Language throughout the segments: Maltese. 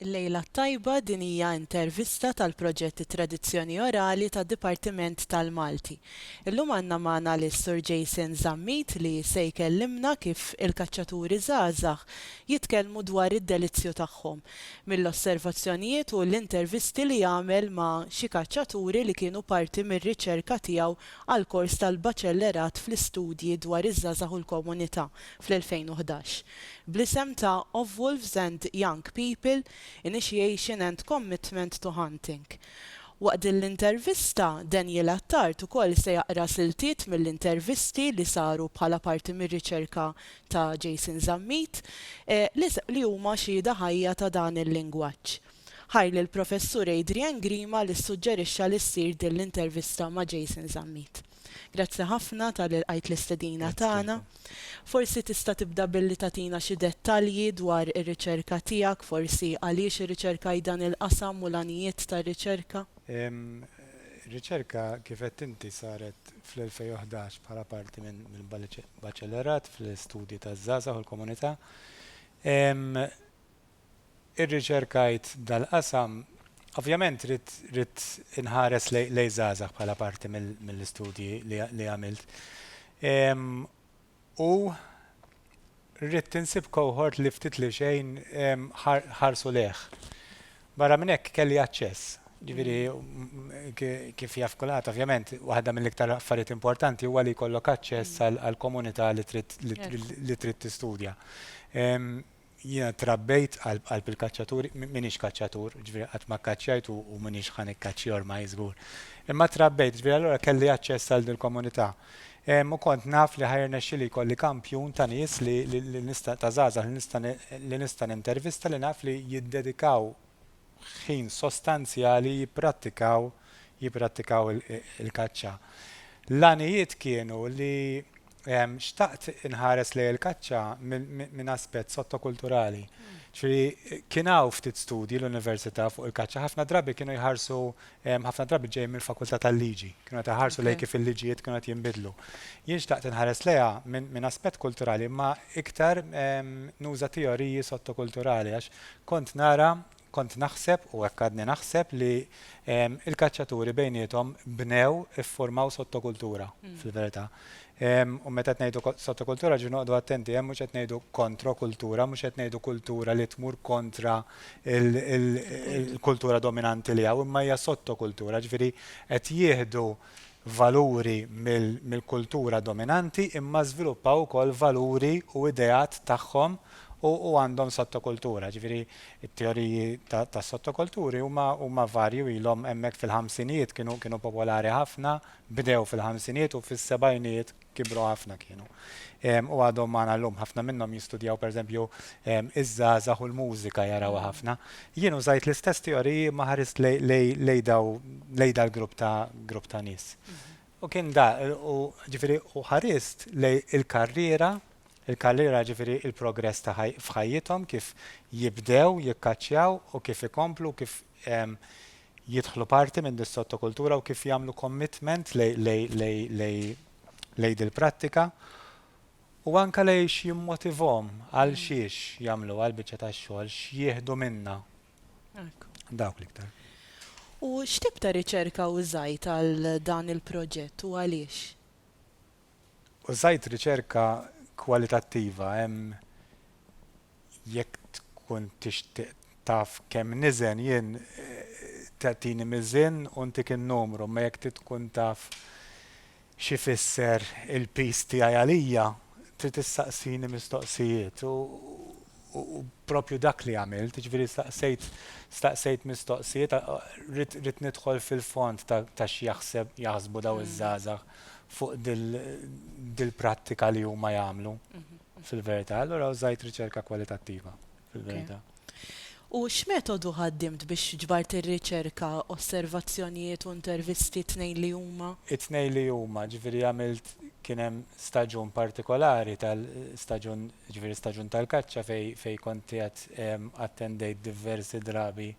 Il-Lejla t-Tajba din hija intervista tal-proġett It-Tradizzjoni Orali tad-Dipartiment tal-Malti. Illum għandna magħna lis-Sur Jason Zammit li se jkellimna kif il-kaċċaturi żgħażagħ jitkellmu dwar id-delizzju tagħhom, mill-osservazzjonijiet u l-intervisti li għamel ma' xi kaċċaturi li kienu parti mir-riċerka tiegħu għall-kors tal-Baċellerat fl-Istudji dwar iż-Żgħażagħ u l-Komunità. fl-2011, bl-isem ta' Of Wolves and Young People, Initiation and Commitment to Hunting. Waqt din l-intervista, Daniel Attard ukoll se jaqra siltiet mill-intervisti li saru bħala parti mir-riċerka ta' Jason Zammit, li huma xhieda ħajja ta' dan il-lingwaġġ. Ħajr lill-Professur Adrian Grima li ssuġġerixxa li ssir din l-intervista ma' Jason Zammit. Grazzi ħafna talli lqajt l-istedina tagħna. Forsi tista' tibda billi tagħtina xi dettalji dwar ir-riċerka tiegħek, forsi għaliex irriċerkajt dan il-qasam u l-għanijiet tar-riċerka? Ir-riċerka kif għedt inti saret fl-2011 bħala parti minn baċellerat fl-istudji taż-żgħażagħ u l-komunità. irriċerkajt dal-qasam, ovvjament ridt inħares lejn żgħażagħ bħala parti mill-istudji li għamilt. U ridt insib cohort li ftit li xejn ħarsu lejh. Barra minn hekk kelli aċċess. Ġifieri kif jaf kulħadd, ovvjament, waħda mill-iktar affarijiet importanti huwa li jkollok aċċess għall-komunità li trid tistudja. Jiena trabbejt qalb qalb il-kaċċaturi, m'iniex kaċċatur, ġifieri qatt ma kkaċċjajt u u m'iniex ħa nikkaċċja ormaj żgur. Imma trabbejt, ġifieri allura kelli aċċess għal dil-komunità. Ehm, u kont naf li ħa jirnexxili jkolli kampjun ta' nies li, li, li nista', ta' żgħażagħ li nista' li nista' nintervista li naf li jiddedikaw ħin sostanzjali jipprattikaw jipprattikaw il-kaċċa. L-għanijiet kienu li xtaqt inħares lejn il-kaċċa minn aspett sottokulturali. Ġifieri kien hawn ftit studji l-università fuq il-kaċċa, ħafna drabi kienu jħarsu ħafna drabi ġejjin mill-Fakultà tal-Liġi. Kienu qed iħarsu lejn kif il-liġijiet kienu qed jinbidlu. Jien xtaqt inħares lejha minn aspett kulturali imma iktar nuża teoriji sottokulturali għax kont nara, kont naħseb u hekk għadni naħseb li l-kaċċaturi bejniethom bnew, iffurmaw sottokultura fil-verità. U meta qed ngħidu sottokultura rġu noqgħodu attenti, hemm mhux qed ngħidu kontrokultura, mhux qed ngħidu kultura li tmur kontra l-kultura dominanti li hawn, imma hija sottokultura, ġifieri qed jieħdu valuri mill-kultura dominanti imma żviluppaw ukoll valuri u ideat tagħhom u għandhom sottokultura. Ġifieri t-teoriji tas-sottokulturi huma varji u ilhom hemmhekk fil-ħamsinijiet kienu popolari ħafna, Bdew fil-ħamsinijiet u fis-sebgħinijiet kibru ħafna kienu. U għadhom magħna llum. Ħafna minnhom jistudjaw pereżempju iż-żgħażagħ u l-mużika jarawha ħafna. Jien użajt l-istess teoriji imma ħarist lejn daw lejn dal-grupp ta' grupp ta' nies. U kien da u ġifieri u ħarist lejn il-karriera, il-karriera ġifieri l-progress ta' f'ħajjithom kif jibdew jikkaċċjaw u kif ikomplu u kif jidħlu parti minn dis-sottokultura u kif jagħmlu commitment lejn dil-prattika u anke lejn x'jimmotivhom għal xiex jagħmluha l-biċċa tax-xogħol, x'jieħdu minnha. Dawk l-iktar. U x'tip ta' riċerka użajt għal dan il-proġett u għaliex? Użajt riċerka kwalitattiva. Hemm jekk tkun tixtieq taf kemm niżen jien tagħtini miżien u ntik in-numru imma jekk trid tkun taf x'ifisser il-piż tiegħi għalija trid issaqsini mistoqsijiet u u proprju dak li għamilt jiġifieri staqsejt staqsejt mistoqsijiet ridt ridt nidħol fil-fond ta' ta' x'jaħseb jaħsbu dawn iż-żgħażagħ fuq dil dil-prattika li huma jagħmlu. Fil-verità, allura użajt riċerka kwalitattiva, fil-verità. U x'metodu ħaddimt biex ġbart ir-riċerka, osservazzjonijiet u intervisti t-tnejn li huma? It-tnejn li huma, ġifieri għamilt, kien hemm staġun partikolari tal, staġun, ġifieri staġun tal-kaċċa fejn fejn kont qiegħed attendejt diversi drabi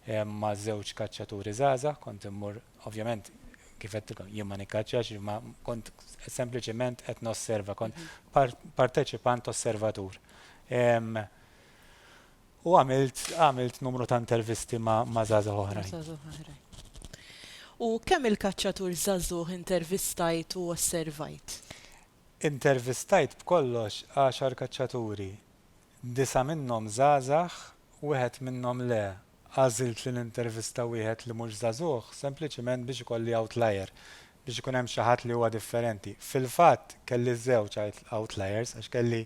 ma' żewġ kaċċaturi żgħażagħ, kont immur Ovvjament, kif għedtilkom, jien ma nikkaċċax, ma kont sempliċement qed nosserva, kont mhm. parteċipant osservatur. U għamilt għamilt numru ta' intervisti ma' ma' zaza oħra. U kemm il-kaċċatur zazuh intervistajt u osservajt? Intervistajt b'kollox għaxar kaċċaturi. Disa minnhom zazax, wieħed minnhom le, Għażilt li nintervista wieħed li mhux żagħżugħ sempliċiment biex ikolli outlier, biex ikun hemm xi ħadd li huwa differenti. Fil-fatt, kelli żewġ outliers għax kelli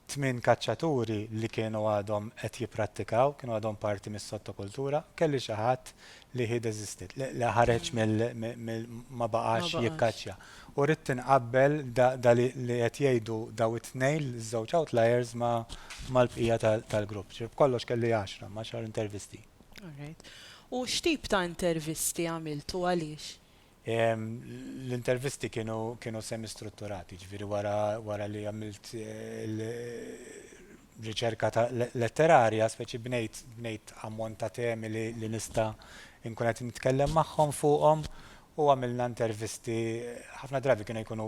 tmien kaċċaturi li kienu għadhom qed jipprattikaw, kienu għadhom parti mis-sottokultura, u kelli xi ħadd li he desisted, li ħareġ mill-, ma baqax jikkaċċja. U ridt inqabbel da li qed jgħidu daw it-tnejn, iż-żewġ outliers ma' mal-bqija tal-grupp. Ġifieri b'kollox kelli għaxra, ma' xahar intervisti. Alright. U x'tip ta' intervisti għamilt u għaliex? L-intervisti kienu semi-strutturati, jiġifieri wara li għamilt riċerka ta' letterarja, speċi bnejt ammont ta' temi li nista' nkun qed nitkellem magħhom fuqhom u għamilna intervisti, ħafna drabi kienu jkunu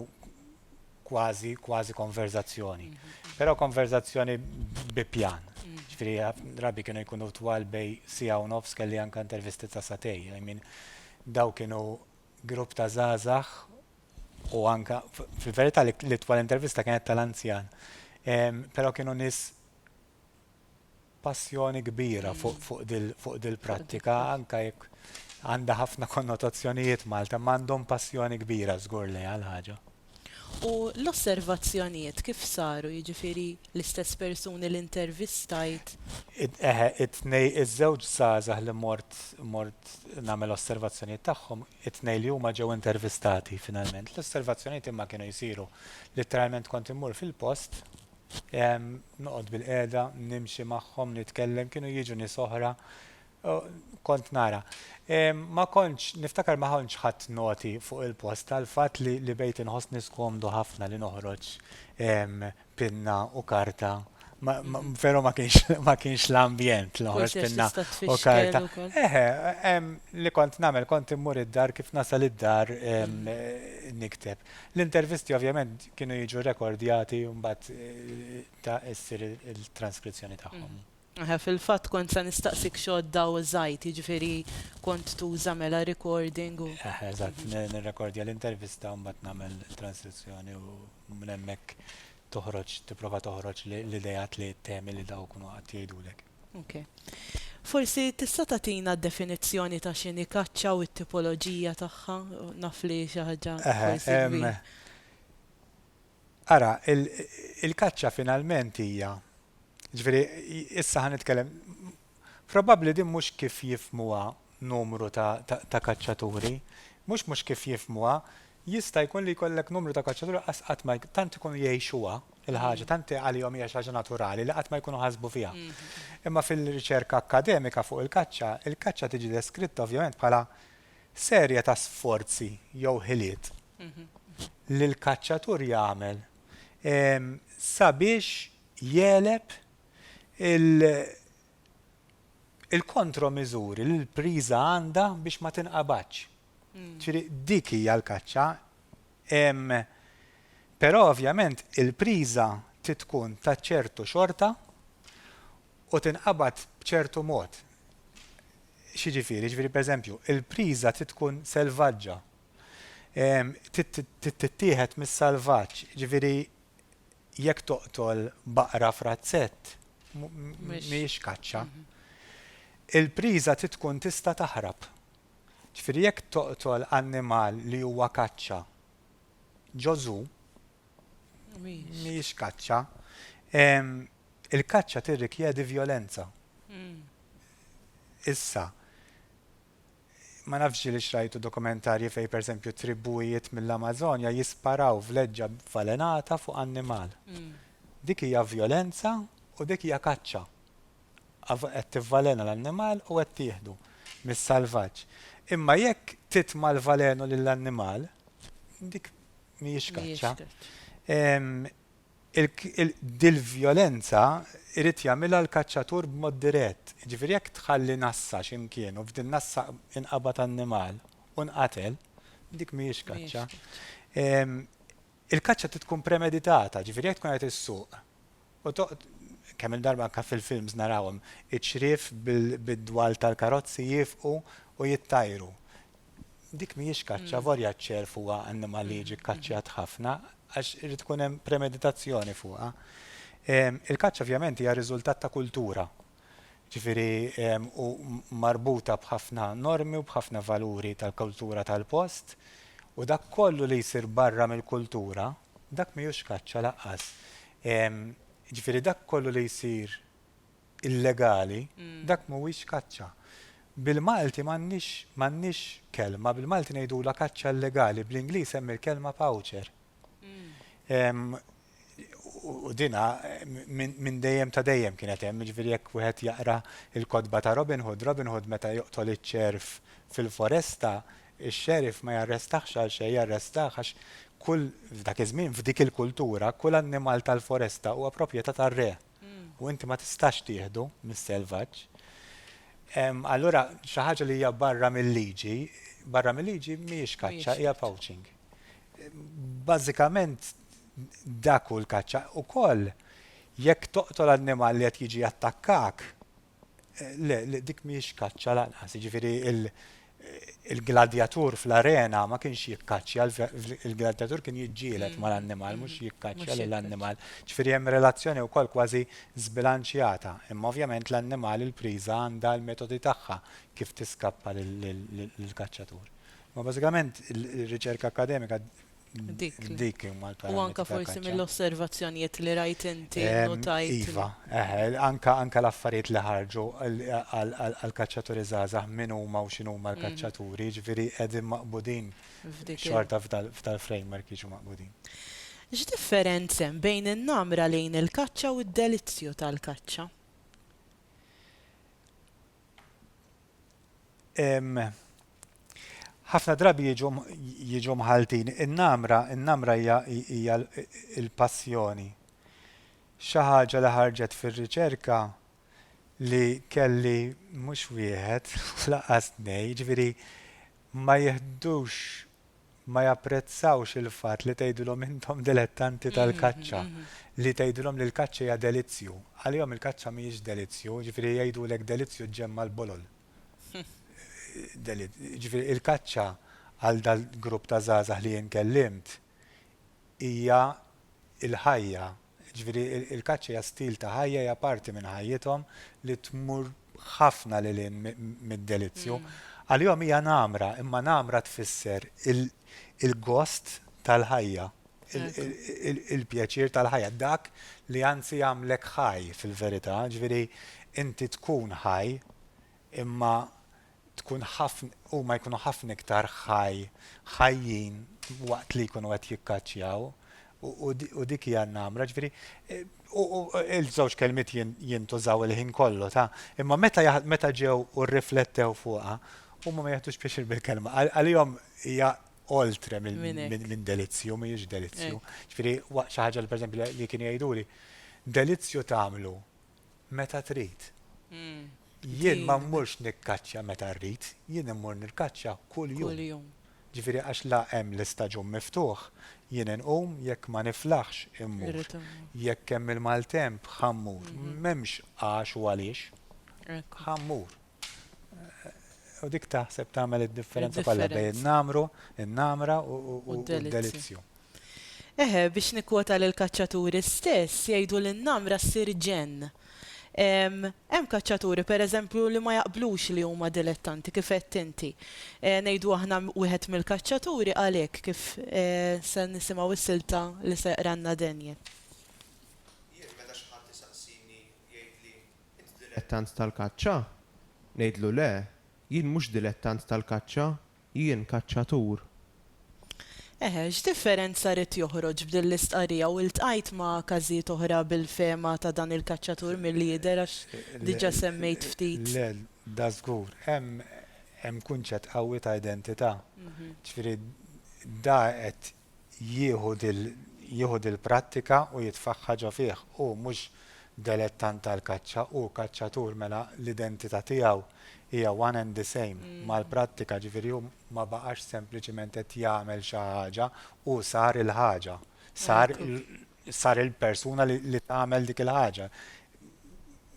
kważi, kważi konverzazzjoni. Però konverzazzjoni bi pjan. Ġifieri ħafna drabi kienu jkunu twal bej siegħa u nofs kelli anke intervisti ta' sagħtej. I mean, dawn kienu grupp ta' żgħażagħ u anke, fil-verità l-itwal intervista kienet tal-anzjan. Però kienu nies passjoni kbira fuq dil-prattika anke jekk għandha ħafna konnotazzjonijiet Malta, imma għandhom passjoni kbira żgur lejha l-ħaġa. U l-osservazzjonijiet kif saru, jiġifieri l-istess persuni li intervistajt? Eħe, it-tnej, iż-żewġ żgħażagħ li mort mort nagħmel osservazzjonijiet tagħhom, it-tnejn li huma ġew intervistati finalment. L-osservazzjonijiet imma kienu jsiru, litteralment kont immur fil-post, Noqgħod bilqiegħda, nimxi magħhom, nitkellem, kienu jiġu nies oħra, kont nara. Ma kontx, niftakar ma kontx ħadt noti fuq il-post tal-fatt li bejt inħossni skomdu ħafna li noħroġ pinna u karta, veru ma kienx ma kienx l-ambjent li noħroġ pinna u karta. Eħe, li kont nagħmel kont immur id-dar kif nasal id-dar nikteb. L-intervisti ovvjament kienu jiġu rekordjati u mbagħad ta' issir il-transkrizzjoni tagħhom. Eħe, fil-fatt kont se nistaqsik x'għodda użajt, jiġifieri kont tuża mela recording u. Eħe, eżatt, nirrekordja l-intervista u mbagħad nagħmel transkrizzjoni u minn hemmhekk toħroġ, tipprova toħroġ l-ideat li temi li dawk kienu qatt jgħidulek. Ok. Forsi tista' tagħtina d-definizzjoni ta' x'inhi kaċċa u t-tipoloġija tagħha? Naf li xi ħaġa forsi kbira. Ara, il-kaċċa finalment hija, jiġifieri issa ħa nitkellem, probabbli din mhux kif jifhmuha numru ta' kaċċaturi, mhux mhux kif jifhmuha, Jista' jkun li jkollek numru ta' kaċċaturi qas qatt ma tant ikunu jgħixuha l-ħaġa, tant għalihom hija xi ħaġa naturali li qatt ma jkunu ħasbu fiha. Imma fil-riċerka akkademika fuq il-kaċċa, il-kaċċa tiġi deskritta ovvjament bħala serje ta' sforzi jew ħiliet li l-kaċċatur jagħmel sabiex jegħleb il-kontromiżuri li l-priża għandha biex ma tinqabadx. Ġifieri dik hija l-kaċċa. Però ovvjament il-priża trid tkun ta' ċertu xorta u tinqabad b'ċertu mod. X'jiġifieri? Jiġifieri pereżempju, il-priża trid tkun selvaġġa. Trid tittieħed mis-salvaġġ. Jiġifieri jekk toqtol baqra f'razzett mhijiex kaċċa. Il-priża trid tkun tista' taħrab. Ġifieri jekk toqtol annimal li huwa kaċċa, ġo zoo, mhijiex kaċċa. Il-kaċċa tirrikjedi vjolenza. Issa, ma nafx ġielix rajtu dokumentarji fejn pereżempju tribujiet mill-Amażonja jisparaw vleġġa b'valenata fuq annimal. Dik hija vjolenza u dik hija kaċċa. qed tivvalena l-annimal u qed tieħdu mis-salvaġġ. Imma jekk titma' l-valenu lill-annimal, dik mhijiex kaċċa. Dil-vjolenza jrid jagħmilha l-kaċċatur b'mod dirett. Jiġifieri jekk tħalli nassa xi mkien u f'din nassa inqabad annimal u nqatel, dik mhijiex kaċċa. Il-kaċċa trid tkun premeditata, jiġifieri jekk tkun qed issuq u toqgħod, kemm-il darba anke fil-films narawhom, iċ-ċriev bid-dwal tal-karozzi jiefqu u jittajru. Dik mhijiex kaċċa, avolja ċ-ċerv huwa annimal li jiġi kkaċċjat ħafna, għax irid tkun hemm premeditazzjoni fuqha. Il-kaċċa ovvjament hija riżultat ta' kultura, jiġifieri u marbuta b'ħafna normi u b'ħafna valuri tal-kultura tal-post, u dak kollu li jsir barra mill-kultura, Dak mhijiex kaċċa lanqas. Jiġifieri dak kollu li jsir illegali, dak mhuwiex kaċċa. Bil-Malti m'għandniex m'għandniex kelma, bil-Malti ngħidulha kaċċa illegali, bl-Ingliż hemm il-kelma poacher. U dinha minn dejjem ta' dejjem kienet hemm, jiġifieri jekk wieħed jaqra l-kotba ta' Robin Hood, Robin Hood meta joqtol iċ-ċerv fil-foresta, Ix-xeriff ma jarrestahx għal xejn, jarrestah għax kull, f'dak iż-żmien, f'dik il-kultura, kull annimal tal-foresta huwa proprjetà tar-re u inti ma tistax tieħdu mis-selvaġġ. Allura xi ħaġa li hija barra mil-liġi, barra mil-liġi mhijiex kaċċa, hija poaching. Bażikament dak hu l-kaċċa. Ukoll jekk toqtol annimal li qed jiġi jattakkak, Le, le, dik mhijiex kaċċa lanqas, jiġifieri l-gladjatur fl-arena ma kienx jikkaċċja, il-gladjatur kien jiġġieled mal-annimal mhux jikkaċċja lill-annimal. Ġifieri hemm relazzjoni wkoll kważi żbilanċjata, imma ovvjament l-annimal il-priża għandha l-metodi tagħha kif tiskappa lill-kaċċatur. Imma bażikament ir-riċerka akkademika Dik. Dik imma l-parametru. U anka forsi mill-osservazzjonijiet li rajt inti notajt. Iva, eħel, anka anka l-affarijiet li ħarġu għal-kaċċaturi żgħażagħ min huma u x'inhuma l-kaċċaturi, ġifieri qegħdin maqbudin xorta f'dal-framework jiġu maqbudin. X'differenz hemm bejn in-namra lejn il-kaċċa u d-delizzju tal-kaċċa? Ħafna drabi jiġu mħalltin in-namra, in-namra hija hija l-passjoni. Xi ħaġa li ħarġet fir-riċerka li kelli mhux wieħed, lanqas tnejn, jiġifieri ma jiħdux ma japprezzawx il-fatt li tgħidilhom intom dilettanti tal-kaċċa, li tgħidilhom li l-kaċċa hija delizzju. Għalihom il-kaċċa mhijiex delizzju, jiġifieri jgħidulek delizzju ġġemma' l-bolol. Jiġifieri il-kaċċa għal dal-grupp ta' żgħażagħ li jien kellimt hija l-ħajja. Jiġifieri il-kaċċa hija stil ta' ħajja, hija parti minn ħajjithom li tmur ħafna lil hinn mid-delizzju. Għalihom hija nagħmra, imma nagħmra tfisser il-gost tal-ħajja. il-pjaċir tal-ħajja, dak li anzi jagħmlek ħaj fil-verità, ġifieri inti tkun ħaj imma tkun ħafna huma jkunu ħafna iktar ħaj ħajjin waqt li jkunu qed jikkaċċjaw u dik hija namra, ġifieri eh, u il-żewġ kelmiet jintużaw il-ħin kollu ta' imma meta meta ġew u rriflettew fuqha huma ma jaħtux pjaċir bil-kelma. Għalihom hija oltre minn delizzju, mhijiex delizzju. Ġifieri xi ħaġa li pereżempju li kienu jgħiduli, delizzju tagħmlu meta trid. Jien ma mmurx nikkaċċja meta rrid, jien immur nirkaċċja kuljum. Ġifieri għax la hemm l-istaġun miftuħ, jien inqum jekk ma niflaħx immur. Jekk hemm il-maltemp ħa mmur. M'hemmx għax u għaliex. Ħa mmur. U dik taħseb tagħmel id-differenza kollha bejn in-namru, in-namra u d-delizzju. Eħe, biex nikkwota lill-kaċċaturi stess, jgħidu li n-namra ssir ġenn. Hemm kaċċaturi, pereżempju, li ma jaqblux li huma dilettanti, kif għedt inti. Ngħidu aħna wieħed mill-kaċċaturi qal hekk, kif se nisimgħu s-silta li se jqralna Daniel. Jien meta xi ħadd isaqsini jgħidli Int dilettant tal-kaċċa? Ngħidlu le, jien mhux dilettant tal-kaċċa, jien kaċċatur. Eħe, x'differenza ried joħroġ b'din l-istqarrija u ltqajt ma' każijiet oħra bil-fehma ta' dan il-kaċċatur milli jidher għax diġà semmejt ftit. Le, dażgur. Hemm kunċett qawwi ta' identità. Ġifieri da qed jieħu dil-prattika u jitfaħħa ġo fih. Hu mhux delettant tal-kaċċa, hu kaċċatur mela l-identità tiegħu hija one and the same mal-prattika, ġifieri hu ma baqax sempliċiment qed jagħmel xi ħaġa, hu sar il-ħaġa, sar sar il-persuna li tagħmel dik il-ħaġa.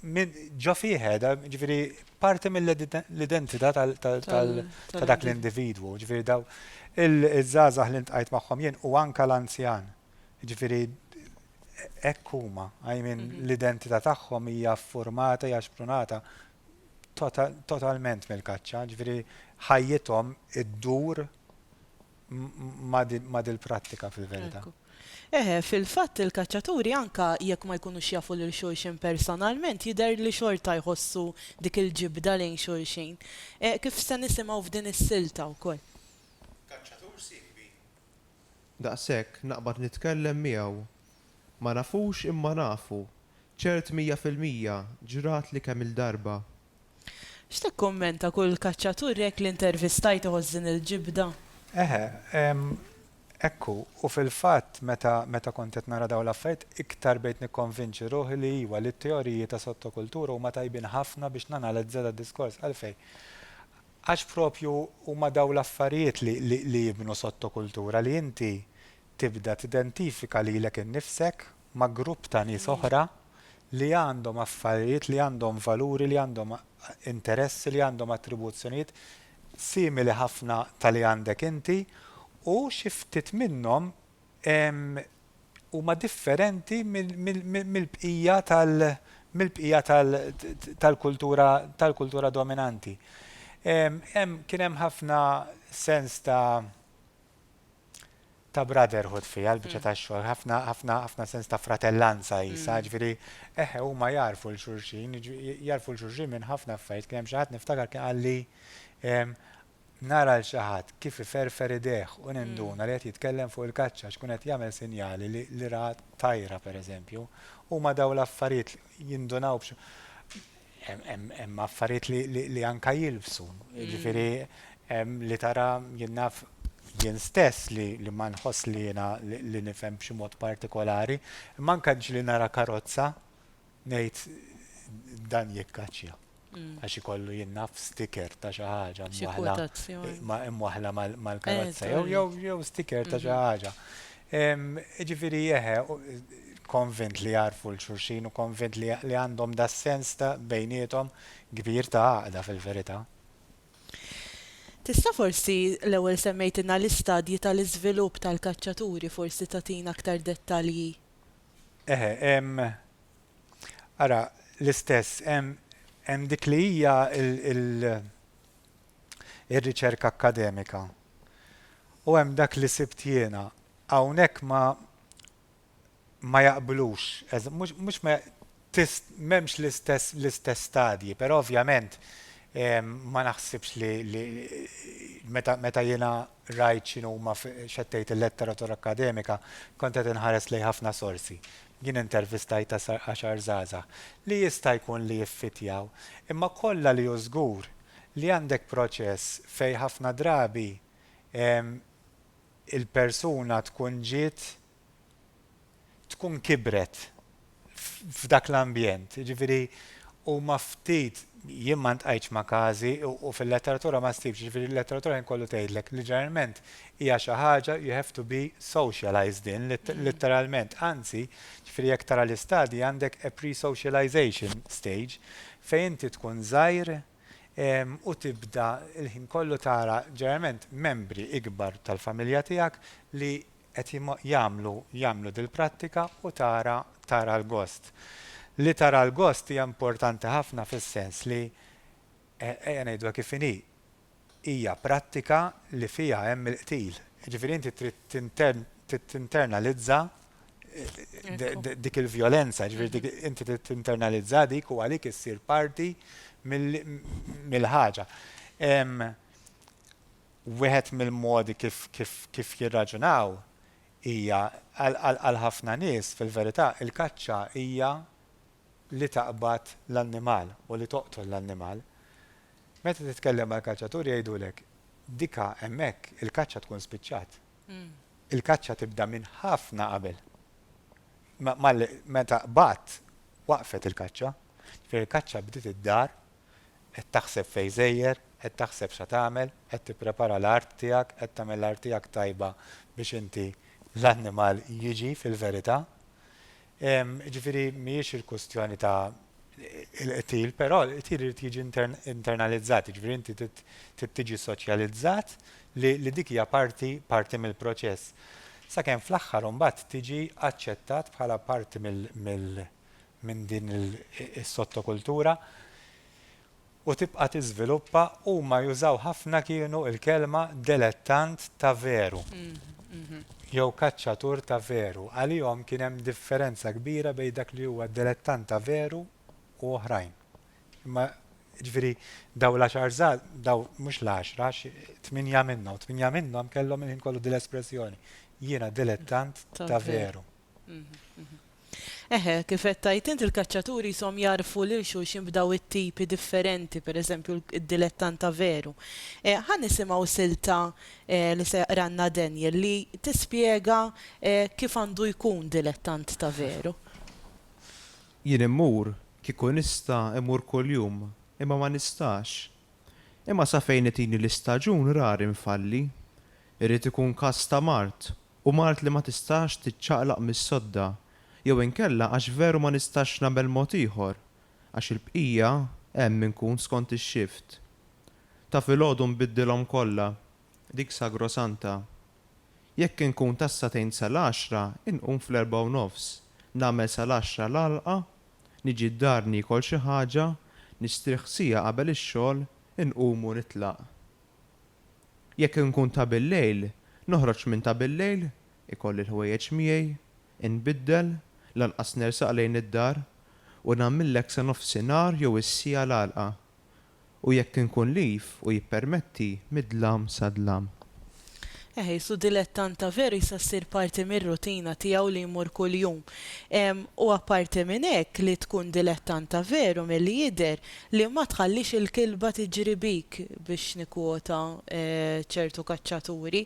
Ġo fih qiegħda, ġifieri parti mill-identità ta' dak l-individwu, ġifieri daw il-żgħażagħ li ntqajt magħhom jien u anke l-anzjan. Ġifieri hekk huma, I mean mhm. l-identità tagħhom hija ffurmata, hija xprunata totalment mill-kaċċa, ġifieri ħajjithom iddur ma' dil-prattika fil-verità. Eħe, fil-fatt il-kaċċaturi anke jekk ma jkunux jafu lil xulxin personalment jidher li xorta jħossu dik il-ġibda lejn xulxin. Kif se nisimgħu f'din is-silta wkoll. Kaċċatur sieħbi. Daqshekk naqbad nitkellem miegħu. Ma nafux imma nafu. Ċert mija fil-mija, ġratli kemm-il darba. X'tikkummenta kull kaċċatur jekk li ntervistajt iħoss din il-ġibda? Eħe, hekk hu. U fil-fatt meta meta kont qed nara dawn l-affarijiet iktar bdejt nikkonvinċi ruħi li iwa li t-teoriji ta' sottokultura huma tajbin ħafna biex nanalizza dad-diskors. Għalfejn? Għax propju huma dawn l-affarijiet li li li jibnu sottokultura li inti tibda tidentifika lilek innifsek ma' grupp ta' nies oħra li għandhom affarijiet, li għandhom valuri, li għandhom interessi, li għandhom attribuzzjonijiet simili ħafna ta' li għandek inti u xi ftit minnhom huma differenti mill-bqija tal mill-bqija tal tal-kultura tal-kultura dominanti. Hemm kien hemm ħafna sens ta' ta' brotherhood fiha l-biċċa tax-xogħol, ħafna ħafna ħafna sens ta' fratellanza qisha, ġifieri eħe huma jagħrfu lil xulxin, jagħrfu lil xulxin minn ħafna affarijiet. Kien hemm xi ħadd niftakar kien qalli nara lil xi ħadd kif iferfer idejh u ninduna li qed jitkellem fuq il-kaċċa għax ikun qed jagħmel sinjali li ra tajra pereżempju. Huma dawn l-affarijiet jindunaw Hemm affarijiet li anke jilbsu, jiġifieri hemm li tara jien naf jien stess li ma nħoss li jiena li nifhem b'xi mod partikolari, imma anke ġieli nara karozza ngħid dan jikkaċċja għax ikollu jien naf sticker ta' xi ħaġa mwaħħla mal-karozza jew sticker ta' xi ħaġa. Jiġifieri eħe, konvint li jagħrfu 'l xulxin u konvint li għandhom das-sens ta' bejniethom kbir ta' għaqda fil-verità. Tista' forsi, l-ewwel semmejtilna l-istadji tal-iżvilupp tal-kaċċaturi, forsi tagħtina aktar dettalji? Eħe, hemm, ara, l-istess, hemm dik li hija ir-riċerka akkademika u hemm dak li sibt jiena, hawnhekk ma ma jaqblux, mhux mhux ma m'hemmx l-istess l-istess stadji, però ovvjament ma naħsibx li li meta meta jiena rajt x'inhuma x'qed tgħid il-letteratura akkademika kont qed inħares lejn ħafna sorsi. Jien intervistajt għaxar żgħażagħ li jista' jkun li jiffittjaw imma kollha li hu żgur li għandek proċess fejn ħafna drabi il-persuna tkun ġiet tkun kibret f'dak l-ambjent, jiġifieri huma ftit, jien ma ltqajtx ma' każi u fil-letteratura ma ssibx, jiġifieri l-letteratura ħin kollu tgħidlek li ġeneralment hija xi ħaġa you have to be socialized in, litteralment, anzi, jiġifieri jekk tara l-istadji għandek a pre-socialization stage Fejn inti tkun żgħir u tibda l-ħin kollu tara ġeneralment membri ikbar tal-familja tiegħek li qed jagħmlu jagħmlu dil-prattika u tara tara l-gost. Li tara l-gost hija importanti ħafna fis-sens li, ejja ngħiduha kif inhi, hija prattika li fiha hemm il-qtil. Jiġifieri inti trid tinternalizza dik il-vjolenza, jiġifieri mhm. inti trid tinternalizza dik u għalik issir parti mill-ħaġa. Wieħed mill-modi kif jirraġunaw hija għal ħafna nies fil-verità il-kaċċa hija li taqbad l-annimal u li toqtol l-annimal. Meta titkellem mal-kaċċaturi jgħidulek, dika hemmhekk il-kaċċa tkun spiċċat. Il-kaċċa tibda minn ħafna qabel. Meta qbadt, waqfet il-kaċċa. Ġifieri l-kaċċa bdiet id-dar, qed taħseb fejn żejjer, qed taħseb x'ha tagħmel, qed tipprepara l-art tiegħek, qed tagħmel l-art tiegħek tajba biex inti l-annimal jiġi fil-verità. Jiġifieri mhijiex il-kwistjoni ta' il-qtil, però l-qtil irid jiġi internalizzat, jiġifieri inti trid tiġi soċjalizzat li dik hija parti parti mill-proċess. Sakemm fl-aħħar imbagħad tiġi aċċettat bħala parti mill minn din is-sottokultura. u tibqa' tiżviluppa huma jużaw ħafna kienu l-kelma delettant ta' veru jew kaċċatur ta' veru. Għalihom kien hemm differenza kbira bejn dak li huwa delettant ta' veru u oħrajn. Imma jiġifieri dawn l-għaxar żgħaż, dawn mhux l-għaxra għax tmienja minnhom, tmienja minnhom kellhom il-ħin kollu dil-espressjoni, jiena delettant ta' veru. Eħe, kif qed tgħid int il-kaċċaturi qishom jagħrfu lil xulxin f'daw it-tipi differenti, pereżempju d-dilettant ta' veru. Ħa nisimgħu silta li se jaqralna Daniel li tispjega kif għandu jkun dilettant ta' veru. Jien immur, kieku nista' immur kuljum, imma ma nistax. Imma sa fejn itini l-istaġun rari nfalli. Irid ikun każ ta' mard u mard li ma tistax tiċċaqlaq mis-sodda, jew inkella għax veru ma nistax nagħmel mod ieħor, għax il-bqija hemm inkun skont ix-xift. Ta' filgħodu nbiddilhom kollha, dik sagrosanta. Jekk inkun tas-sagħtejn sal-għaxra inqum fl-erbgħa u nofs, nagħmel sal-għaxra l-għalqa, niġi d-dar niekol xi ħaġa, nistrieħ siegħa qabel ix-xogħol, inqum u nitlaq. Jekk inkun ta' billejl, noħroġ minn ta' billejl, ikolli l-ħwejjeġ miegħi, inbiddel, lanqas nersaq lejn id-dar, u nagħmillek sa nofsinhar jew is-siegħa l-għalqa. U jekk inkun live u jippermetti, mid-dlam sa dlam. Eħis, u dilettant ta' veru jista' ssir parti mir-rutina tiegħu li jmur kuljum. U apparti minn hekk, li tkun dilettant ta' veru, milli jidher, Li ma tħallix il-kilba tiġri bik, biex nikkwota ċertu kaċċaturi.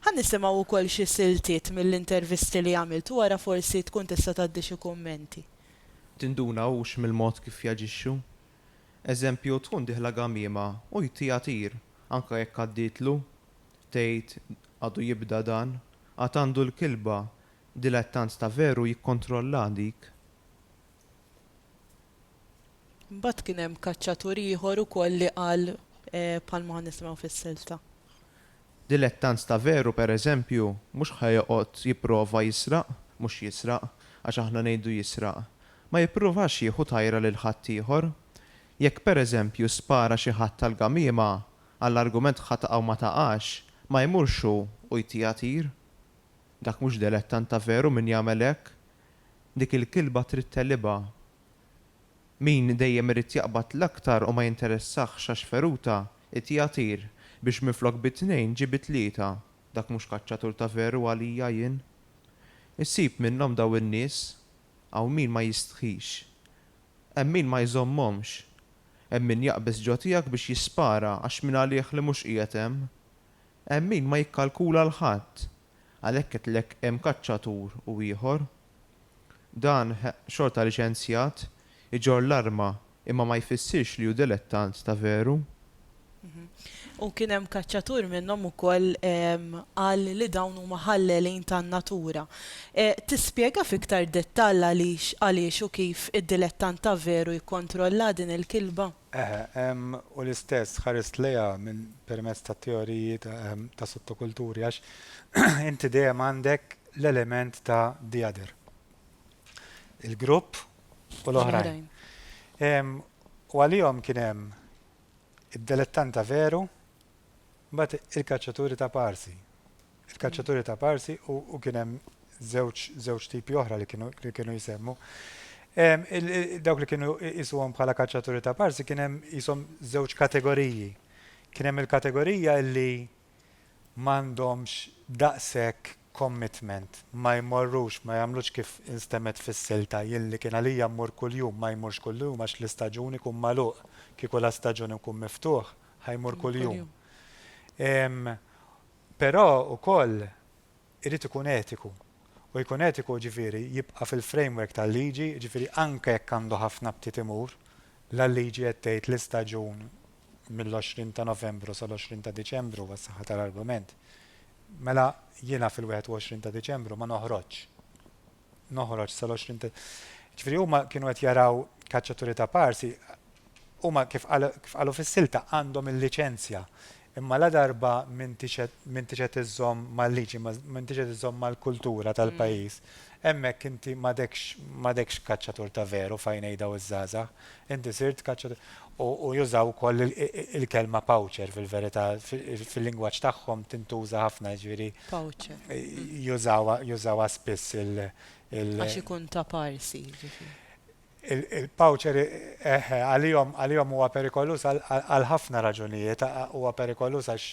Ħa nisimgħu wkoll xi siltiet mill-intervisti li għamilt u wara forsi tkun tista' tgħaddi xi kummenti. Tinduna hux mill-mod kif jaġixxu. Eżempju, tkun dieħla gamiema u jtiha tir, anke jekk għaddietlu. Tgħid, Għadu jibda dan. Għad għandu l-kilba. Dilettant ta' veru jikkontrollha dik. Mbagħad kien hemm kaċċatur ieħor ukoll li qal bħalma ħa nisimgħu fis-silta. Dilettant ta' veru, per eżempju, mhux ħa joqgħod jipprova jisraq, mhux jisraq, għax aħna ngħidu jisraq. Ma jippruvax jieħu tajra lil ħaddieħor. Jekk per eżempju spara xi ħadd għall-gamiema, għall-argument ħa taqa' u ma taqax, ma jmurx hu u jtiha tir. Dak mhux delettant ta' veru min jagħmel hekk. Dik il-kilba trid tegħlibha. Min dejjem irid jaqbad l-aktar u ma jinteressahx għax feruta, ittiha tir, biex minflok bi tnejn ġie bi tlieta. Dak mhux kaċċatur ta' veru għalija jien. Issib minnhom dawn in-nies. Hawn min ma jistħix. Hemm min ma jżommhomx. Hemm min jaqbeż ġo tiegħek biex jispara għax mingħalih li mhux qiegħed hemm. Hemm min ma jikkalkula 'l ħadd. Għalhekk għedtlek hemm kaċċatur u ieħor. Dan, xorta liċenzjat, iġorr l-arma imma ma jfissirx li hu dilettant ta' veru. U kien hemm kaċċatur minnhom ukoll qal li dawn huma ħallelin tan-natura. Tispjega f'iktar dettall għaliex, għaliex u kif id-dilettant ta' veru jikkontrollha din il-kilba? Eħe, ehm, u l-istess ħarist lejha minn permezz ta' teoriji ta', ehm, ta' sottokulturi, għax inti dejjem għandek l-element ta' the other. Il-grupp u l-oħrajn. Ehm, u għalihom kien hemm id-delettanta veru, mbagħad il-kaċċaturi ta' parsi. Il-kaċċaturi ta' parsi u kien hemm żewġ żewġ tipi oħra li kienu li kienu jsemmu. Dawk li kienu jisuhom bħala kaċċaturi ta' parsi kien hemm jisom żewġ kategoriji. Kien hemm il-kategorija li m'għandhomx daqshekk commitment, ma jmorrux, ma jagħmlux kif instemmet fis-silta, jien li kien għalija mmur kuljum, ma jmurx kuljum għax l-istaġun ikun magħluq, kieku l-istaġun ikun miftuħ, ħa jmur kuljum. Però ukoll irid ikun etiku. U jkun etiku jiġifieri jibqa' fil-framework tal-liġi, jiġifieri anke jekk għandu ħafna btiet imur, la l-liġi qed tgħid l-istaġun mill-20 ta' Novembru sal-20 ta' Diċembru għas-saħħa tal-argument, mela jiena fil-21 ta' Diċembru ma noħroġx. noħroġ sal-20 ta' ġifieri huma kienu qed jaraw kaċċaturi ta' parsi huma kif qalu fis-silta għandhom il-liċenzja imma la darba m'intix qed m'intix qed iżżomm mal-liġi m'intix qed iżżomm mal-kultura tal-pajjiż hemmhekk inti m'għadekx m'għadekx kaċċatur ta' veru f'għajnej daw iż-żgħażagħ Inti sirt kaċċatur. U jużaw ukoll il-kelma poacher fil-verità, fil-lingwaġġ tagħhom tintuża ħafna, jiġifieri. Poacher. Jużawha spiss il-. Għax ikun ta' parsi, jiġifieri. Il-poacher, eħe, għalihom huwa perikoluż għal ħafna raġunijiet. Huwa perikoluż għax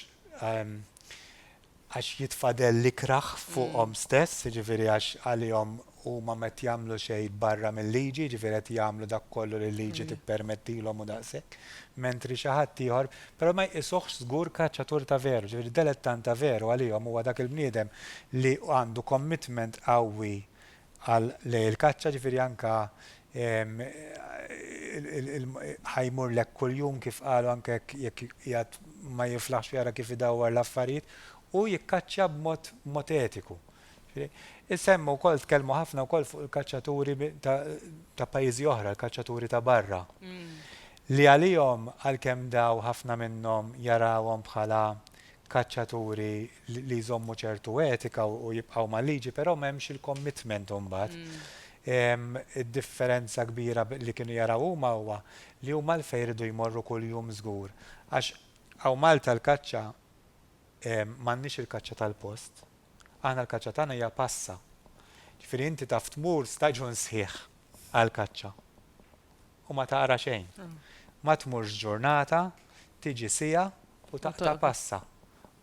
għax jitfadel l-ikrah fuqhom stess, jiġifieri għax għalihom huma m'qed jagħmlu xejn barra mil-liġi, jiġifieri qed jagħmlu dak kollu li l-liġi tippermettilhom u daqshekk, mentri xi ħadd ieħor, però ma jqisuhx żgur kaċċatur ta' veru, jiġifieri delettant ta' veru għalihom huwa dak il-bniedem li għandu commitment qawwi għal lejl il-kaċċa, ġifieri anke ħa jmur lhekk kuljum kif qalu anke jekk qiegħed ma jiflaħx u jara kif idawwar l-affarijiet u jikkaċċja b'mod b'mod etiku. Semma wkoll tkellmu ħafna wkoll fuq il-kaċċaturi ta' ta' pajjiżi oħra, l-kaċċaturi ta' barra. Li għalihom għalkemm daw ħafna minnhom jarawhom bħala kaċċaturi li jżommu ċertu etika u jibqgħu mal-liġi, però m'hemmx il-commitment imbagħad. Id-differenza kbira li kienu jaraw huma huwa li huma għalfejn iridu jmorru kuljum żgur. Għax hawn Malta l-kaċċa m'għandniex il-kaċċa tal-post. Aħna l-kaċċa tagħna hija passa. Ġifieri inti taf tmur staġun sħiħ għall-kaċċa. U ma taqra xejn. Ma tmurx ġurnata, tiġi siegħa u taqta' passa.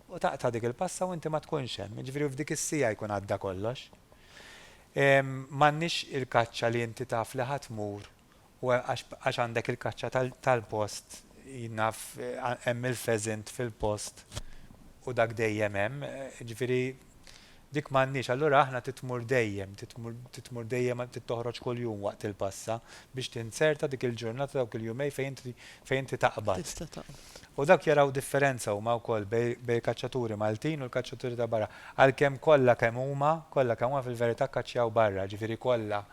U taqta' dik il-passa u inti ma tkunx hemm. Jiġifieri f'dik is-siegħa jkun għadda kollox. M'għandniex il-kaċċa li inti taf li ħa tmur u għax għandek il-kaċċa tal-post, jien naf hemm il-pheasant fil-post u dak dejjem hemm. Jiġifieri Dik m'għandniex, allura aħna trid tmur dejjem, trid tmur, trid tmur dejjem, trid toħroġ kuljum waqt il-passa biex tinzerta dik il-ġurnata, dawk il-jumej fejn inti, fejn inti taqbad. Tista' taqbad. U dawk jaraw differenza huma wkoll bej, bejn il-kaċċaturi Maltin u l-kaċċaturi ta' barra. Għalkemm kollha kemm huma, kollha kemm huma fil-verità kkaċċjaw barra, ġifieri kollha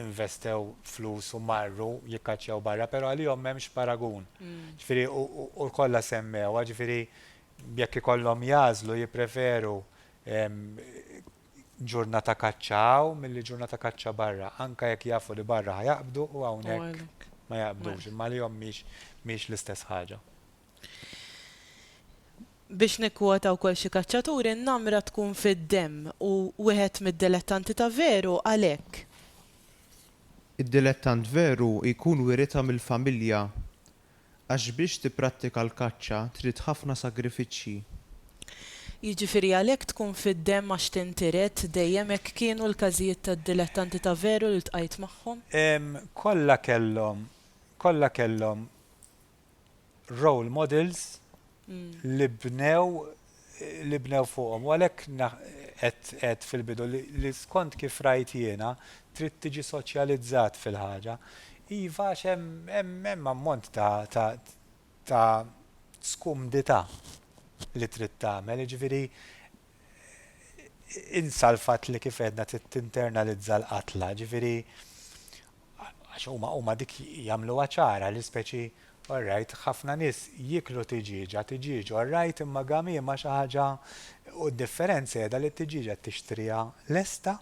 investew flus u marru jikkaċċjaw barra, però għalihom m'hemmx paragun. Ġifieri u, u, u kollha semmewha, ġifieri Jekk ikollhom jagħżlu jippreferu ġurnata kaċċa hawn milli ġurnata kaċċa barra, anke jekk jafu li barra ħa jaqbdu u hawnhekk ma jaqbdux, imma għalihom mhix l-istess ħaġa. Biex nikkwota wkoll xi kaċċatur, in-namra tkun fid-demm u wieħed mid-dilettanti ta' veru għalhekk. Id-dilettant veru jkun wiritha mill-familja għax biex tipprattika l-kaċċa trid ħafna sagrifiċċji. Jiġifieri għalhekk tkun fid-demm għax tintiret dejjem hekk kienu l-każijiet tad-dilettanti ta' veru li ltqajt magħhom? Ehm kollha kellhom kollha kellhom role models li bnew li bnew fuqhom. U għalhekk qed għedt fil-bidu li skont kif rajt jiena trid tiġi soċjalizzat fil-ħaġa. Iva għax hemm hemm ammont ta' ta' ta' skumdità li trid tagħmel, jiġifieri insa l-fatt li kif għedna trid tinternalizza l-qatla, jiġifieri għax huma huma dik jagħmluha ċara li speċi all right ħafna nies jieklu tiġieġa, tiġieġ all right imma gamiema xi ħaġa u d-differenza qiegħda li t-tiġieġa tixtriha lesta,